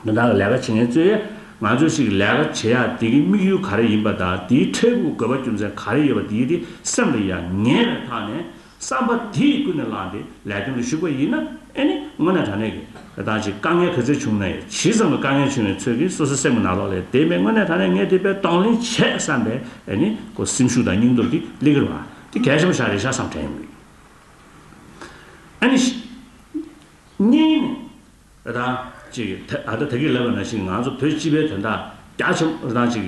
ཐང་གི་ལས་ཀ་བྱེད་མཁན་གཙོས་ཡས་ང་ཚོས་ཞིག་ལས་ཀ་བྱེད་ཡག་དེ་གི་དམིགས་ཡུལ་ག་རེ་ཡིན་པ་དང་དེའི་འཕྲལ་ཕུགས་དགོས་པ་རྒྱུ་མཚན་ག་རེ་ཡོད་པ་དེ་དེ་སེམས་ལ་ཡང་ངེས་པའི་ཐག་ནས། བསམ་པ་དེས་ཀུན་ནས་བསླངས་ཏེ་ལས་དོན་ལ་ཞུགས་པ་ཡིན་ན་ཨེ་ནི་དངོས་གནས་དྲང་གནས་ཀྱི་རེ་ཐག་ཅིག་དཀའ་ངལ་ག་ཚོད་བྱུང་ན་ཡང་ཇི་ཙམ་གྱི་དཀའ་ངལ་བྱུང་བའི་ཚོད་ཀྱིས་སོ་སོའི་སེམས་ཀྱི་ན་ལོག་ལས་དེ་མེད་དངོས་གནས་དྲང་གནས་ངས་དེ་པས་གདོང་ལེན་བྱས་བསམ་པའི་ཨེ་ནི་ཀོ་སེམས་ཤུགས་དང་སྙིང་སྟོབས་ཀྱིས་གླིང་གེར་བ་དེ་གས་ཤམ་བཞག་རེ་བཞག་བསམ་དྲན་ཡོང་གི་ཡོད་ཨེ་ནི། གཉིས་ནས་རེ་དང། ཅེས་ཨ་ད་དགེ་ལེགས་པ་ན་ཞིག་ང་ཚོ་བོད་སྤྱི་པའི་དོན་དག་རྒྱ་ཆེ་པོ་རེ་དང། ཅིག་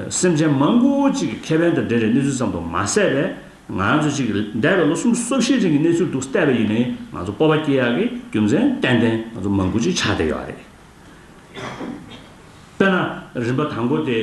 སེམས་ཅན་མང་པོ་ཅིག་གི་ཁེ་ཕན་དང་འབྲེལ་བའི་གནས་ཚུལ་ཙམ་དུ་མ་ཟད་པས་ང་ཚོ་ཅིག་འདས་པའི་ལོ་གསུམ་སོ་བཞིའི་རིང་གི་གནས་ཚུལ་དུ་བལྟས་པ་ཡིན་ནའི་ང་ཚོ་སྤོབས་པ་སྐྱེ་ཡག་གི་རྒྱུ་མཚན་ཏན་ཏན་ང་ཚོ་མང་པོ་ཅིག་ཆགས་བསྡད་ཡོད་རེད། དཔེར་ན་རིམ་པ་དང་པོ་དེ།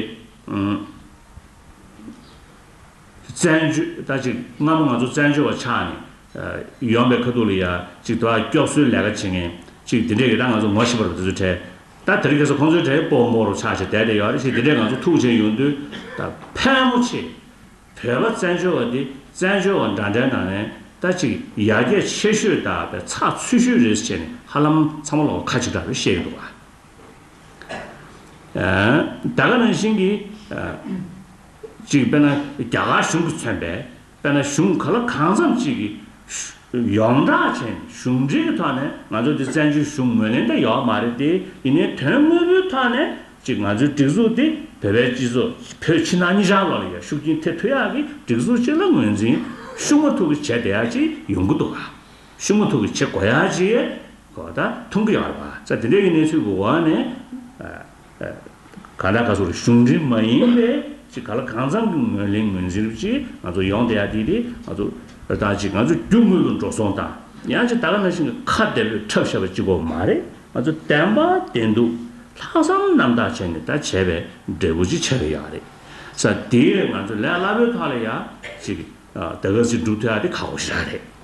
བཙན་བྱོལ་ད་ཅིག་སྔ་མོ་ང་ཚོ་བཙན་བྱོལ་བ་ཆགས་ནས། ཡོང་པའི་ཁ་ཐུག་ལ་ཡ་ཅིག་དོ་ཨ་སྐྱོགས་གསོའི་ལས་ཀ་བྱེད་མཁན་ཅིག་དེ་འདྲས་ཀྱི་ད་ང་ཚོ་ངོ་ཤེས་པ་རུ་དེ་ཚོའི་གྲས། ད་དེ་རིང་གེ་སར་ཁོང་ཚོའི་གྲས་པོ་མོ་རུ་ཆགས་ཆེ་དད་དད་ཡོད་རེད་ཤེས་དེ་འདྲས་ང་ཚོ་ཐུགས་རྗེ་ཡོང་དུས་ད་ཕལ་མོ་ཆེ། བོད་པ་བཙན་བྱོལ་བ་འདི་བཙན་བྱོལ་བ་འདྲ་འདྲའི་ནང་ནས་ད་ཅིག་ཡར་རྒྱས་ཆེ་ཤོས་དག་པའི་ཚགས་ཚུད་ཤོས་རེད་ཟེར་ནས་ཧ་ལམ་ཚང་མ་ལོག་ཁ་ཆིག་ཁྲག་རེད་བཤད་ཀྱི་འདུག་བ། དེ་ག་ནང་བཞིན་གྱི། གཅིག་དཔེར་ན་རྒྱ་གར་གཞུང་གིས་མཚོན་པའི་དཔེར་ན་གཞུང་ག་ལ་གང་འཚམ་ཅིག་གིས། ཡོངས་གྲགས་བྱས་ནས་གཞུང་འབྲེལ་གྱི་ཐོག་ནས་ང་ཚོ་འདི་བཙན་བྱོལ་གཞུང་ངོས་ལེན་ད་ཡོད་མ་རེད་དེ་ཡིན་ནའི་དོན་དངོས་པོའི་ཐོག་ནས་གཅིག་ང་ཚོའི་སྒྲིག་འཛུགས་དེ་བོད་པའི་སྤྱི་ཚོགས་བོད་ཕྱི་ནང་གཉིས་ཆར་ལོག་ལ་ཡར་ཤུགས་རྐྱེན་ཐེབས་ཐུབ་ཡག་གི་སྒྲིག་འཛུགས་གཅིག་ལ་ངོས་འཛིན་ཤུགས་མ་ཐུབ་ཀྱི་བྱས་དེ་ཡག་ཅིག་ཡོང་གི་འདུག་ག། ཤུ་མོ་ཐུག་གི་ཆེ་གོ་ཡ་ཅི། གོ་ད་ཐུང་གི་ཡོར་བ་ཚ་དེ་འདྲས་ཀྱི་གནས་ཚུལ་གི་འོག་ནས། ག་ད་ག་ཚོར་གཞུང་འབྲེལ་མ་ཡིན་པའི་ཅི་ག་ལ་གང་འཚམ་གི་ངོས་ལེན་ངོས་འཛིན་རིགས་ཅིག་ང་ཚོར་ཡོང་སྟེ་ཡ་དེ་དེ་ང་ཚོ་ར་ཐག་ཅིག་ང་ཚོ་རྒྱུ་དངུལ་ལོ་འགྲོ་སོང་དང་ཡང་ཅི་ད་ག་ན་ཞིག་གི་ཁ་བདེ་པོས་འཁྲབ་བཤད་པ་ཅིག་གོ་མ་རེད་ང་ཚོ་བདེན་པ་བདེན་འདུག་ལྷག་བསམ་རྣམ་དག་བྱས་ནས་ད་བྱས་པའི་འབྲས་བུ་ཅིག་ཆགས་ཀྱི་ཡག་རེད་ས་དེའི་རེད་ང་ཚོ་ལས་སླ་པོའི་ཐོག་ལ་ཡ་ཅིག་ད་ག་ཚིག་སྒྲུབ་ཐུབ་ཡ་དེ་ཁག་པོ་ཞིག་ར་རེད།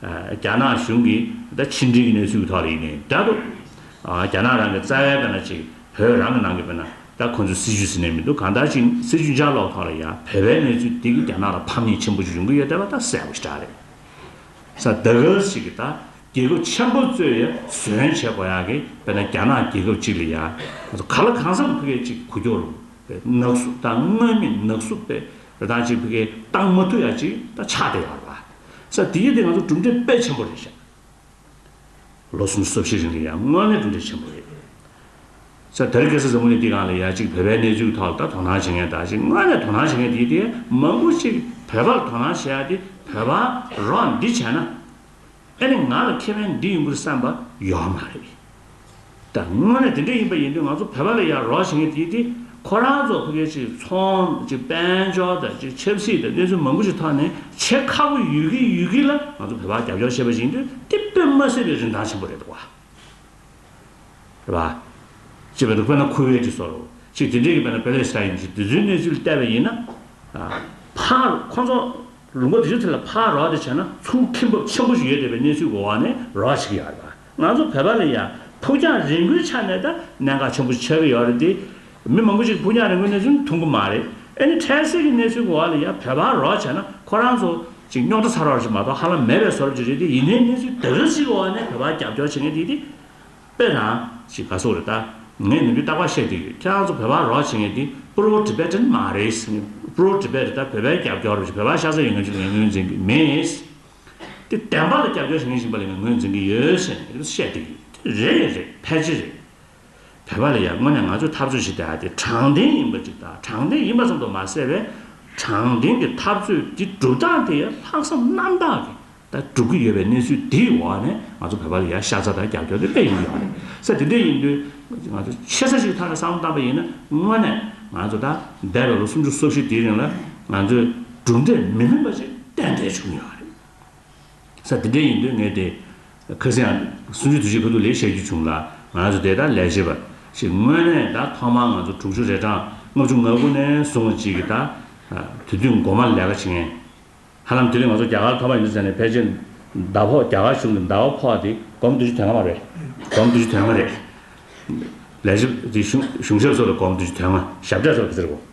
རྒྱ་ནག་གཞུང་གིས་ད་ཕྱི་འབྲེལ་གྱི་གནས་ཚུལ་གྱི་ཐོག་ལ་ཡིན་ནའི་ད་དུ། རྒྱ་ནག་རང་གི་རྩ་བའི་དཔེར་ན་ཅིག་བོད་རང་གི་ནང་གི་དཔེར་ན་ད་ཁོང་ཚོས་སྲིད་ཇུས་ཟིན་ནའི་མི་འདུག་གང་ལྟར་ཅིག་སྲིད་ཇུས་འཇའ་ལོག་ཐོག་ལ་ཡང་བོད་པའི་གནས་ཚུལ་དེ་གིས་རྒྱ་ནག་ལ་ཕམ་ཉེས་ཆེན་པོ་ཅིག་ཡོང་གི་ཡོད་བསྡད་པ་ད་གསལ་པོ་ཞིག་གྲགས་རེད། ས་ད་གལ་སྲིད་ཀྱི་ད་རྒྱལ་ཁབ་ཆེན་པོ་གཙོས་ཡ་ཟོན་བྱེད་དགོས་ཡག་གི་དཔེར་ན་རྒྱ་ནག་རྒྱལ་ཁབ་ཅིག་ལ་ཡང་ཁོང་ཚོ་ག་ལ་གང་བསམ་ཕི་གེ་ཅིག་གུ་གྱོག་ལུང་པའི་ནག་གསུབ་ད་དངོས་མེད་ནག་གསུབ་དཔེ་ར་ད་ཅིག་ཕི་གེ་བཏང་མ་ཐུབ་ཡ་ཅིག་ད་ཆགས་བསྡད་ཡག་རེད་པ། ས་དེ་ཡིན་དེ་ང་ཚོ་གྲུབ་འབྲས་དཔེ་ཆེན་པོ་རེད་བཤད། ལོ་གསུམ་གསོ་བྱེད་རིང་གི་ཡར་སྔོན་ནི་གྲུབ་འབྲས་ཆེན་པོ་རེད། ས་དེར་སྐད་ས་ཟབ་མོ་ནི་འདི་གང་ལ་ཡ་གཅིག་བོད་པའི་གནས་ཚུལ་ཐོག་ལ་ད་དོ་སྣང་བྱེད་མཁན་དང་གཅིག་དངོས་གནས་དོ་སྣང་བྱེད་མཁན་དེ་དེ་མང་པོ་གཅིག་བོད་པར་དོ་སྣང་བྱེད་ཡ་དེ་བོད་པ་རོགས་འདི་བྱས་ན་ཨེ་ནི་ང་ལ་ཁེ་ཕན་འདི་ཡིན་པུར་བསམ་པ་ཡོད་མ་རེད། ད་དངོས་གནས་དེ་འདྲ་ཡིན་པ་ཡིན་དུས་ང་ཚོ་བོད་པ་ལ་ཡར་རོགས་བྱེད་མཁན་དེ་དེ་ཁོ་རང་ཚོ་ཕ་གི་ཅིག་ཚོང་ཅིག་དཔལ་འབྱོར་དང་ཅིག་ཆབ་སྲིད་དང་གནས་ཚུལ་མང་པོ་ཞིག་ཐོག་ནས་བྱེད་ཁག་པོ་ཡོད་ཀི་ཡོད་ཀི་ལ་ང་ཚོ་བོད་པ་རྒྱབ་སྐྱོར་བྱེད་པ་ཡིན་དུས་དེ་དཔེ་མ་སྲིད་པའི་རིན་ཐང་ཆེན་པོ་རེད་བ། རེད་བ། ཅེས་པ་འདུག་དཔེར་ན་ཁུ་ཝེ་ཏི་སོགས་རོགས་ཅིག་དེ་འདྲས་ཀི་བོད་ན་པེ་ལེ་སི་ཏཱ་ཡིན་ཅིག་དེ་ཚོའི་གནས་ཚུལ་བལྟས་པ་ཡིན་ན། ཕ་ཁོ་ཚོ་ལུང་པ་དེ་ཚོའི་ཐད་ལ་ཕ་རོགས་དེ་བྱས་ན་ཚུར་ཁེངས་འབབ་ཆེན་པོ་ཞིག་ཡོད་བསྡད་པའི་གནས་ཚུལ་གི་འོག་ནས་རོགས་བྱེད་ཀི་ཡོད་རེད་བ། ང་ཚོ་བོད་པ་ལ་ཡང་ཕུགས་རྒྱང་རིང་པོའི་ཆ་ནས་ད་གནད་འགག་ཆེན་པོ་ཆགས་ཀྱི་ཡོད་རེད་དེ། མི་མང་པོ་ཞིག་ཕུགས་རྒྱང་རིང་པོའི་གནས་ཚུལ་མཐོང་གི་མ་རེད། ཨེ་ནི་འཕྲལ་སེལ་གྱི་གནས་ཚུལ་གི་འོག་ལ་ཡང་བོད་པ་རོགས་བྱས་ན་ཁོ་རང་ཚོ་ཅིག་རྙོག་དྲ་ཚར་བ་ཞིག་མ་གཏོགས་ཧ་ལམ་མེད་པའི་སོར་ཅིག་རེད་དེ་ཡིན་ནའི་གནས་ཚུལ་དེ་འདྲ་ཞིག་གི་འོག་ནས་བོད་པ་རྒྱབ་སྐྱོར་བྱེད་མཁན་དེ་དེ། དཔེ་དང། ཞིག་ག་སོགས་རེད་ད། ངས་ནུས་པའི་རྟག་པ་བཤད་བསྡད་ཡོད་ཁྱེད་རང་ཚོ་བོད་པ་རོགས་བྱེད་མཁན་དེ Pro Tibetan མ་རེད། Pro Tibet ད་བོད་པའི་རྒྱབ་སྐྱོར་རེད་བོད་པ་ཤ་ཚ་ཡོད་མཁན་ཅིག་ལ་ངས་ངོས་འཛིན་གྱི་མེད། དེ་བདེན་པ་ལ་རྒྱབ་སྐྱོར་བྱེད་མཁན་ཞིག་པ་ལས་ངོས་འཛིན་གྱི་ཡོད་ཟེར་ནས་རིགས་བཤད་བསྡད་ཡོད་དེ་རེད་རེད་ཕལ་ཆེར་རེད། བོད་པ་ལ་ཡང་དངོས་གནས་ང་ཚོས་འཐབ་རྩོད་བྱེད་དེ་ཨ་དེ་དྲང་བདེན་ཡིན་པ་ཅིག་དང་དྲང་བདེན་ཡིན་པ་ཙམ་དུ་མ་ཟད་པའི་དྲང་བདེན་གྱི་འཐབ་རྩོད་ཀྱི་སྒྲུབ་སྟངས་དེ་ཡང་ལྷག་བསམ་རྣམ་དག་གིས་ད་སྒྲུབ་ཀྱི་ཡོད་པའི་གནས་ཚུལ་དེའི་འོག་ནས་ང་ཚོ་བོད་པ་ལ་ཡང་ཤ་ཚ་དང་རྒྱབ་སྐྱོར་དེ་སྤེལ་ཡོང་གི་ཡོད་རེད་ས་དེ་འདྲས་ཡིན་དུས་ང་ཚོས་ཆེ་ས་ཞིག་ཐག་ལ་བསམ་བློ་བཏང་པ་ཡིན་ན་དངོས་གནས་ང་ཚོ་ད་འདས་པའི་ལོ་སུམ་ཅུ་སོ་བཞི་དེའི་རིང་ལ་ང་ཚོས། གྲུབ་འབྲས་མི་ལྷོད་པ་ཞིག་ཏན་ཏན་བྱུང་ཡོད་པ་རེད། ས་དེ་འདྲ་ཡིན་དུས་ངས་དེ་ག་ཚེ་ཡང་སུན་ཕྱུགས་དུས་ཆེན་ག་དུས་ལས་བཤད་རྒྱུ་བྱུང་ལ་ང་ཚོ་དེ་ལྟར་ལས་བྱེད་པ་ཞིག་དངོས་གནས་ད་ཐོག་མར་ང་ཚོ་དྲུག་ཅུ་རེ་གྲངས་ལྔ་བཅུ་ང་དགུ་ནས་བཟུང་བ་ཅིག་གིས་ད་དེ་དུས་མགོ་མར་ལས་ཀ་བྱེད་མཁན། ཧ་ལམ་དེ་དུས་ང་ཚོ་རྒྱ་གར་ཁ་པར་ཡིན་ཟེར་ནས་ཕལ་ཆེར་ཟླ་ཕོགས་རྒྱ་གར་གཞུང་གི་ཟླ་བ་ཕོགས་དེ་སྒོར་མོ་བདུན་ཅུ་དོན་ལྔ་མ་རེད། སྒོར་མོ་བདུན་ཅུ་དོན་ལྔ་རེད། ལས་བྱེད་དེ་གཞུང་གཞུང་ཞབས་སོགས་ལ་སྒོར་མོ་བདུན་ཅུ་དོན་ལྔ་ཞབས་གྲས་སོགས་ཀྱི་ཟེར་དགོས།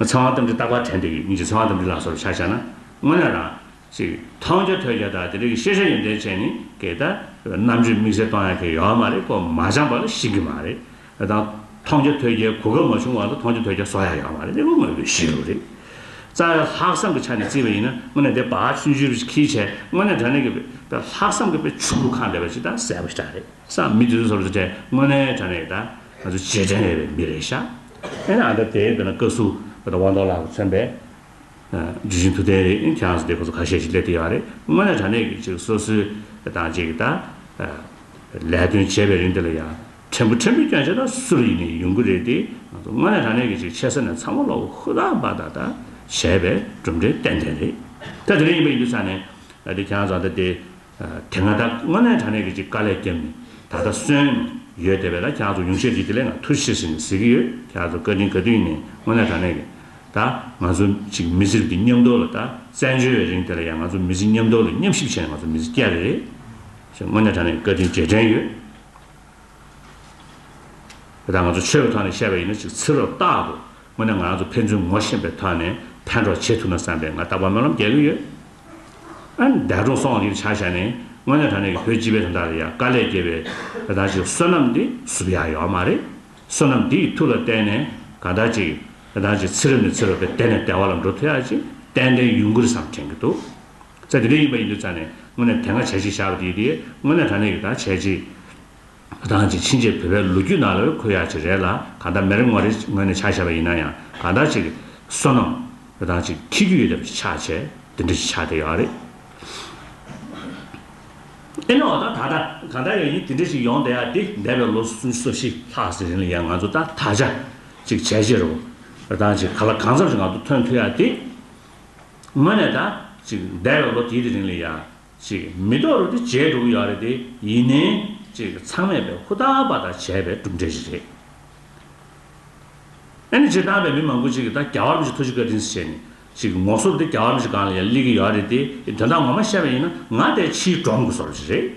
ཚངས་དབང་རྟ་མགྲིན་རྟག་པར་དྲན་ཏེ་ཡིད་ཀྱིས་ཚངས་དབང་རྟ་མགྲིན་ལ་སོར་ཆ་བྱ་ན། སྔོན་ལ་རང། ཞེས། མཐོང་རྒྱ་ཐོས་རྒྱ་དག་དེ་རིགས་ཀྱི་ཤེས་བྱ་ཡོན་ཏན་ཅན་ནི་གེགས་དང། རྣམ་དཔྱོད་དམིགས་བསལ་གཏོང་ཡ་མཁན་ཡོད་མ་རེད་གོ་མ་སྦྱངས་པ་ལ་ཤེས་གི་མ་རེད། དེ་དང། མཐོང་རྒྱ་ཐོས་རྒྱའི་གོ་སྐབས་མ་བྱུང་བ་ལ་མཐོང་རྒྱ་ཐོས་རྒྱ་བཟོ་ཡ་ཡོད་མ་རེད་དེ་ཀུན་དངོས་པོའི་ཞེན་ལུགས་རེད། རྩ་བའི་ལྷག་བསམ་གྱི་ཆ་ནས་བརྩིས་པ་ཡིན་ན་དངོས་གནས་དེ་བག་ཆུན་ཆུན་རེ་ཁིའི་ཆེད་དངོས་གནས་དྲ་གནས་ཀྱི། ལྷག་བསམ་གྱི་དཔེ་ཆུ་ལུགས་གང་འདྲ་བ་ཞིག་དང་གསལ་པོ་ཞིག་གྲགས་རེད་བསམ། མི་དེ་ཚོ་སོར་བཟོ་གྲྭས་དངོས་གནས་དྲ་གནས་ཀྱི་དང། ང་ཚོ་རྗེས་དྲན་ཡོད་པའི་མི་རེད་ཤག་ཨེ་ན་ཨ་འདྲ་དེ་དཔེར་ན་བཀའ་ཟུར་དབང་ཐོག་ལགས་ལ་མཚོན་པས། ཇི་བཞིན་ཐུགས་བདེན་རེད་ཁྱེད་རང་ཚོ་དེ་ཁོ་ཚོ་ཁ་ཤས་ཤིག་སླེབས་དེ་ཡག་རེད་དངོས་གནས་དྲ་གནས་ཀྱི་ཅིག་སོ་སོའི་དང་ཅིག་ད། ལས་དོན་བྱེད་པའི་རིང་འདི་ལ་ཡང་ཕྲན་བུ་ཕྲན་བུ་སྐྱོན་ཆ་ད་སུ་རུ་ཡིན་ནས་ཡོང་གི་རེད་དེ་ང་ཚོ་དངོས་གནས་དྲ་གནས་ཀྱི་ཅིག་ཆེ་ས་ནས་ཚང་མ་ལོག་ཧུ་ད་བ་ད་ད་བྱས་པའི་གྲུབ་འབྲས་ཏན་ཏན་རེད་ད་དེ་རིང་ཡིན་པ་ཡིན་དུས་ས་ནས་ད་དེ་ཁྱེད་རང་ཚོ་ཨ་འདྲ་དེ། དེ་སྔ་ད་སྔོན་ནས་དྲ་གནས་ཀྱི་ཅིག་དཀའ་ལས་བརྒྱབ་ནས་ད་ལྟ་གསོན། ཡོད་དེ་བས་ན་ཁྱེད་ཚོ་ཡུང་ཤེས་ཀྱི་དེ་ལས་ང་ཐུ་ཤེས་ཟེར་ནས་ཟེར་གྱི་ཡོད་ཁྱེད་ཚོ་བཀའ་དྲིན་ག་དུས་ཡིན་ནས་སྔོན་ནས་དྲ་གནས་ཀྱི། ད་ང་ཚོ་ཅིག་མི་ཟིར་གྱི་མཉམ་འདོར་ལ་ད་བཙན་བྱོལ་བའི་རིང་དེ་ལ་ཡང་ང་ཚོ་མི་ཟི་མཉམ་འདོར་ལ་མཉམ་ཞིབ་བྱས་ནས་ང་ཚོ་མི་ཟི་བསྐྱལ་རེད། ཞེས་སྔོན་ནས་དྲ་གནས་ཀྱི་བཀའ་དྲིན་རྗེས་དྲན་ཡོད། དེ་དག་ང་ཚོ་ཆོས་པའི་ཐོག་ནས་བཤད་པ་ཡིན་ན་ཅིག་ཚིག་རོ་བཏགས་འདུག་དངོས་ནས་ང་ཚོ་ཕན་ཚུན་ངོ་ཤེས་པའི་ཐོག་ནས་ཕན་གྲོགས་བྱེད་ཐུབ་ན་བསམ་པས་ང་རྟག་པར་སྨོན་ལམ་རྒྱག་གི་ཡོད། ཨན། འདས་གྲོངས་སོང་བ་གིས་ཆ་བཞག་ནས་དངོས་གནས་ད་ནས་ཀྱི་བོད་སྤྱི་པའི་དོན་དག་ལ་ཡ་དཀའ་ལས་སྐྱེས་པའི་དེ་དག་ཅིག་བསོད་ནམས་འདི་བསུབ་ཡག་ཡོད་མ་རེད། བསོད་ནམས་འདི་ཡི་ཐུགས་ལ་བརྟེན་ནས་གང་དག་ཅིག་དེ་དག་ཅིག་ཚིག་རེ་མི་ཚིག་རོ་དེ་དེད་ནས་དལ་བ་ལ་འགྲོ་ཐུབ་ཡག་ཅིག་ཏན་ཏན་ཡུན་ཀུན་རེ་བསམ་དྲན་གྱི་འདུག་ཚེ་འདི་འདྲའི་ཡིན་པ་ཡིན་དུས་ཚར་ནས་དངོས་གནས་དེ་འགའ་བྱས་ཅིག་བཞག་པ་དེ་ཡིན་ཏེ་དངོས་གནས་ད་ནས་ཀྱི་ད་བྱས་ཅིག། རང་གི་ཕྱིན་ཆད་བོད་པའི་ལོ་རྒྱུས་ནང་ལ་བོད་ཡག་ཅིག་རེད་ལ་གང་ལྟར་མི་རེ་ངོ་རེས་ངོས་ནས་ཆ་བཞག་པ་ཡིན་ན་ཡང་གང་ལྟར་ཅིག་བསོད་ནམས་རང་ཅིག་འཁྱིལ་རྒྱུ་ཡོད་ཐབས་ཅིག་ཆགས་ཆེ་འདི་འདྲ་ཞིག་ཆགས་བསྡད་ཡོད་རེད། ཨེ་ན་འོ་ན་ད་ལྟ་གང་ལྟར་ཡང་ཡིན་དེ་འདྲ་ཞིག་ཡོང་བསྡད་ཡག་འདི་འདས་པའི་ལོ་སུམ་ཅུ་སོ་བཞི་ལྷག་ཟིན་རིང་ལ་ཡང་ང་ཚོ་ད་དག་ཆ་ཅིག་བྱས་ཕྱིར་རོ་རང་ཅིག་ག་ལ་གང་འཚམ་ཞིག་ང་ཚོ་ཐོན་ཐུབ་ཡག་འདི་ངོས་ནས་ད་ཅིག་འདས་པའི་ལོ་དེའི་རིང་ལ་ཡང། ཅིག། མི་རྟོག་རུ་དེ་བྱས་འགྲུབ་ཡག་རེད་དེ་ཡིན་ནའི། ཅིག་ཚང་མས་པའི་ཧུར་ཐག་པ་དག་བྱས་པའི་གྲུབ་འབྲས་ཞིག་རེད། ཨེ་ནས་ཅིག་ཏང་པའི་མི་མང་པོ་ཅིག་གིས་ད་རྒྱ་བར་མི་ཞིག་ཐུགས་རྗེ་བཀའ་དྲིན་བྱས་ནས། ཅིག་ངོ་སོར་དེ་རྒྱ་བར་མི་ཞིག་གང་ལ་ཡང་སླེབས་ཀྱི་ཡག་རེད་དེ་ཡི་དོན་དག་ངོ་མ་བཤད་པ་ཡིན་ན་ང་དེ་ཕྱིའི་འབྲོམ་དགུ་སོར་ཅིག་རེད།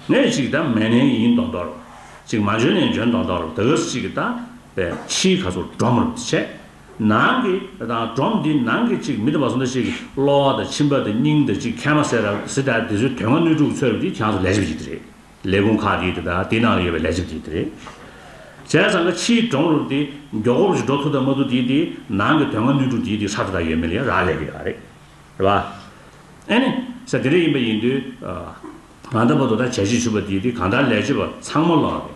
ངས་ཅིག་ད་མན་ནའི་ཡིན་མདོག་མདོག་རུ། ཅིག་མ་འཇོན་ནའི་འཇོན་མདོག་མདོག་རུ་ད་ག་སུ་ཅིག་གིས་ད་པའི་ཕྱིའི་ག་ཚོད་འབྲོམ་རུ་དེ་བྱས། ནང་གི་དང་སྒྲོམ་འདི་ནང་གི་ཅིག་མི་དེ་བ་སུ་འདྲ་ཞིག་གི་གློ་བ་དང་མཆིན་པ་དང་སྙིང་དང་ཅིག་ཁལ་མ་སེ་ར་སི་ཏལ་དེ་ཚོའི་དོན་ལྔ་སྣོད་དྲུག་གི་ཚོད་རིམ་གྱི་གྱང་སོ་ལས་བྱེད་པ་ཅིག་དེ་རེད། ལས་ཁུངས་ཁག་གི་དེ་དག་དེའི་ནང་ལ་ཡོད་པའི་ལས་བྱེད་པ་ཅིག་དེ་རེད། བྱས་ཙང་ཀ་ཕྱིའི་སྒྲོམ་རུབ་དེ་མགྱོགས་པོ་རུ་ཞིག་འགྲོ་ཐུབ་དང་མ་ཐུབ་དེའི་དེའི་ནང་གི་དོན་ལྔ་སྣོད་དྲུག་དེའི་དེའི་ཧྲག་དེ་དག་ཡོད་མེད་ལ་ཡང་རག་ལས་ཀྱི་ཡོད་རེད། རེད་བ། ཨེ་ནི། ས་དེ་རེད་ཡིན་པ་ཡིན་དུས། ང་ད་བར་དུ་ད་བྱས་བྱེད་བྱུས་པ་དེའི་དེའི་གང་ལྟར་ལས་བྱེད་པ་ཚང་མ་ལོག་རེད།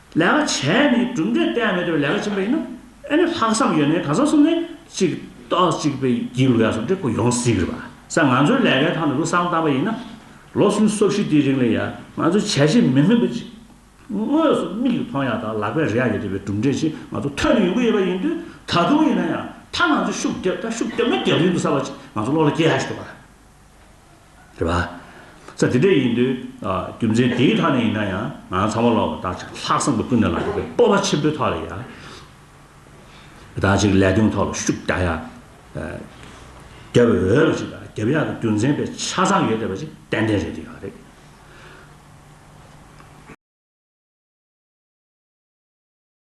ལས་ཀ་བྱས་ནས་གྲུབ་འབྲས་གཏན་མེད་དུ་ལས་ཀ་བྱེད་པ་ཡིན་ན་ཨེ་ནས་ལྷག་བསམ་ཡོད་ནས་གང་ཟག་གསུམ་ནས་གཅིག་རྟོགས་གཅིག་པའི་སྒྱིད་ལུག་ཡག་སོ་འདྲེ་ཁོ་ཡོང་སྲིད་རེད་བ་ས་ང་ཚོའི་ལས་ཀའི་ཐང་ནས་ལོ་སང་བཏང་པ་ཡིན་ན་ལོ་གསུམ་སོ་བཞི་དེའི་རིང་ལ་ཡ་ང་ཚོ་བྱས་བྱས་མིན་མིན་པ་ཅིག་དངོས་སུ་མིག་གིས་མཐོང་ཡག་དང་ལག་པས་རེག་ཡག་ཡོད་དེ་བས་གྲུབ་འབྲས་ཅིག་ང་ཚོ་ཐོན་ནས་ཡོང་གི་ཡོད་པ་ཡིན་དུས་ད་དུང་ཡིན་ན་ཡང་ད་ང་ཚོ་ཤུགས་རྒྱབ་ད་ཤུགས་རྒྱབ་ན་རྒྱབ་རིང་དུ་གསར་བ་ཅིག་ང་ཚོ་བློ་ལ་སྐྱེ་ཡག་ཞིག་འདུག་བ། རེད་པ། ས་དེ་འདྲ་ཡིན་དུས་རྒྱུ་མཚན་དེའི་ཐག་ནས་ཡིན་ན་ཡང་ང་ཚང་མ་ལོག་པར་བདག་ཅག་ལྷག་བསམ་གྱི་ཀུན་ནས་ལངས་པའི་སྤོབས་པ་ཆེན་པོའི་ཐོག་ལ་ཡང་བདག་ཅག་གི་ལས་དོན་ཐོག་ལ་ཤུགས་རྒྱག་ཡ། རྒྱབ་འོས་པ་ཞིག་དང་རྒྱབ་ཡ་གི་རྒྱུ་མཚན་པའི་ཆ་ཚང་ཡོད་བསྡད་པ་ཞིག་ཏན་ཏན་རེད་འདི་ཡང་རེད།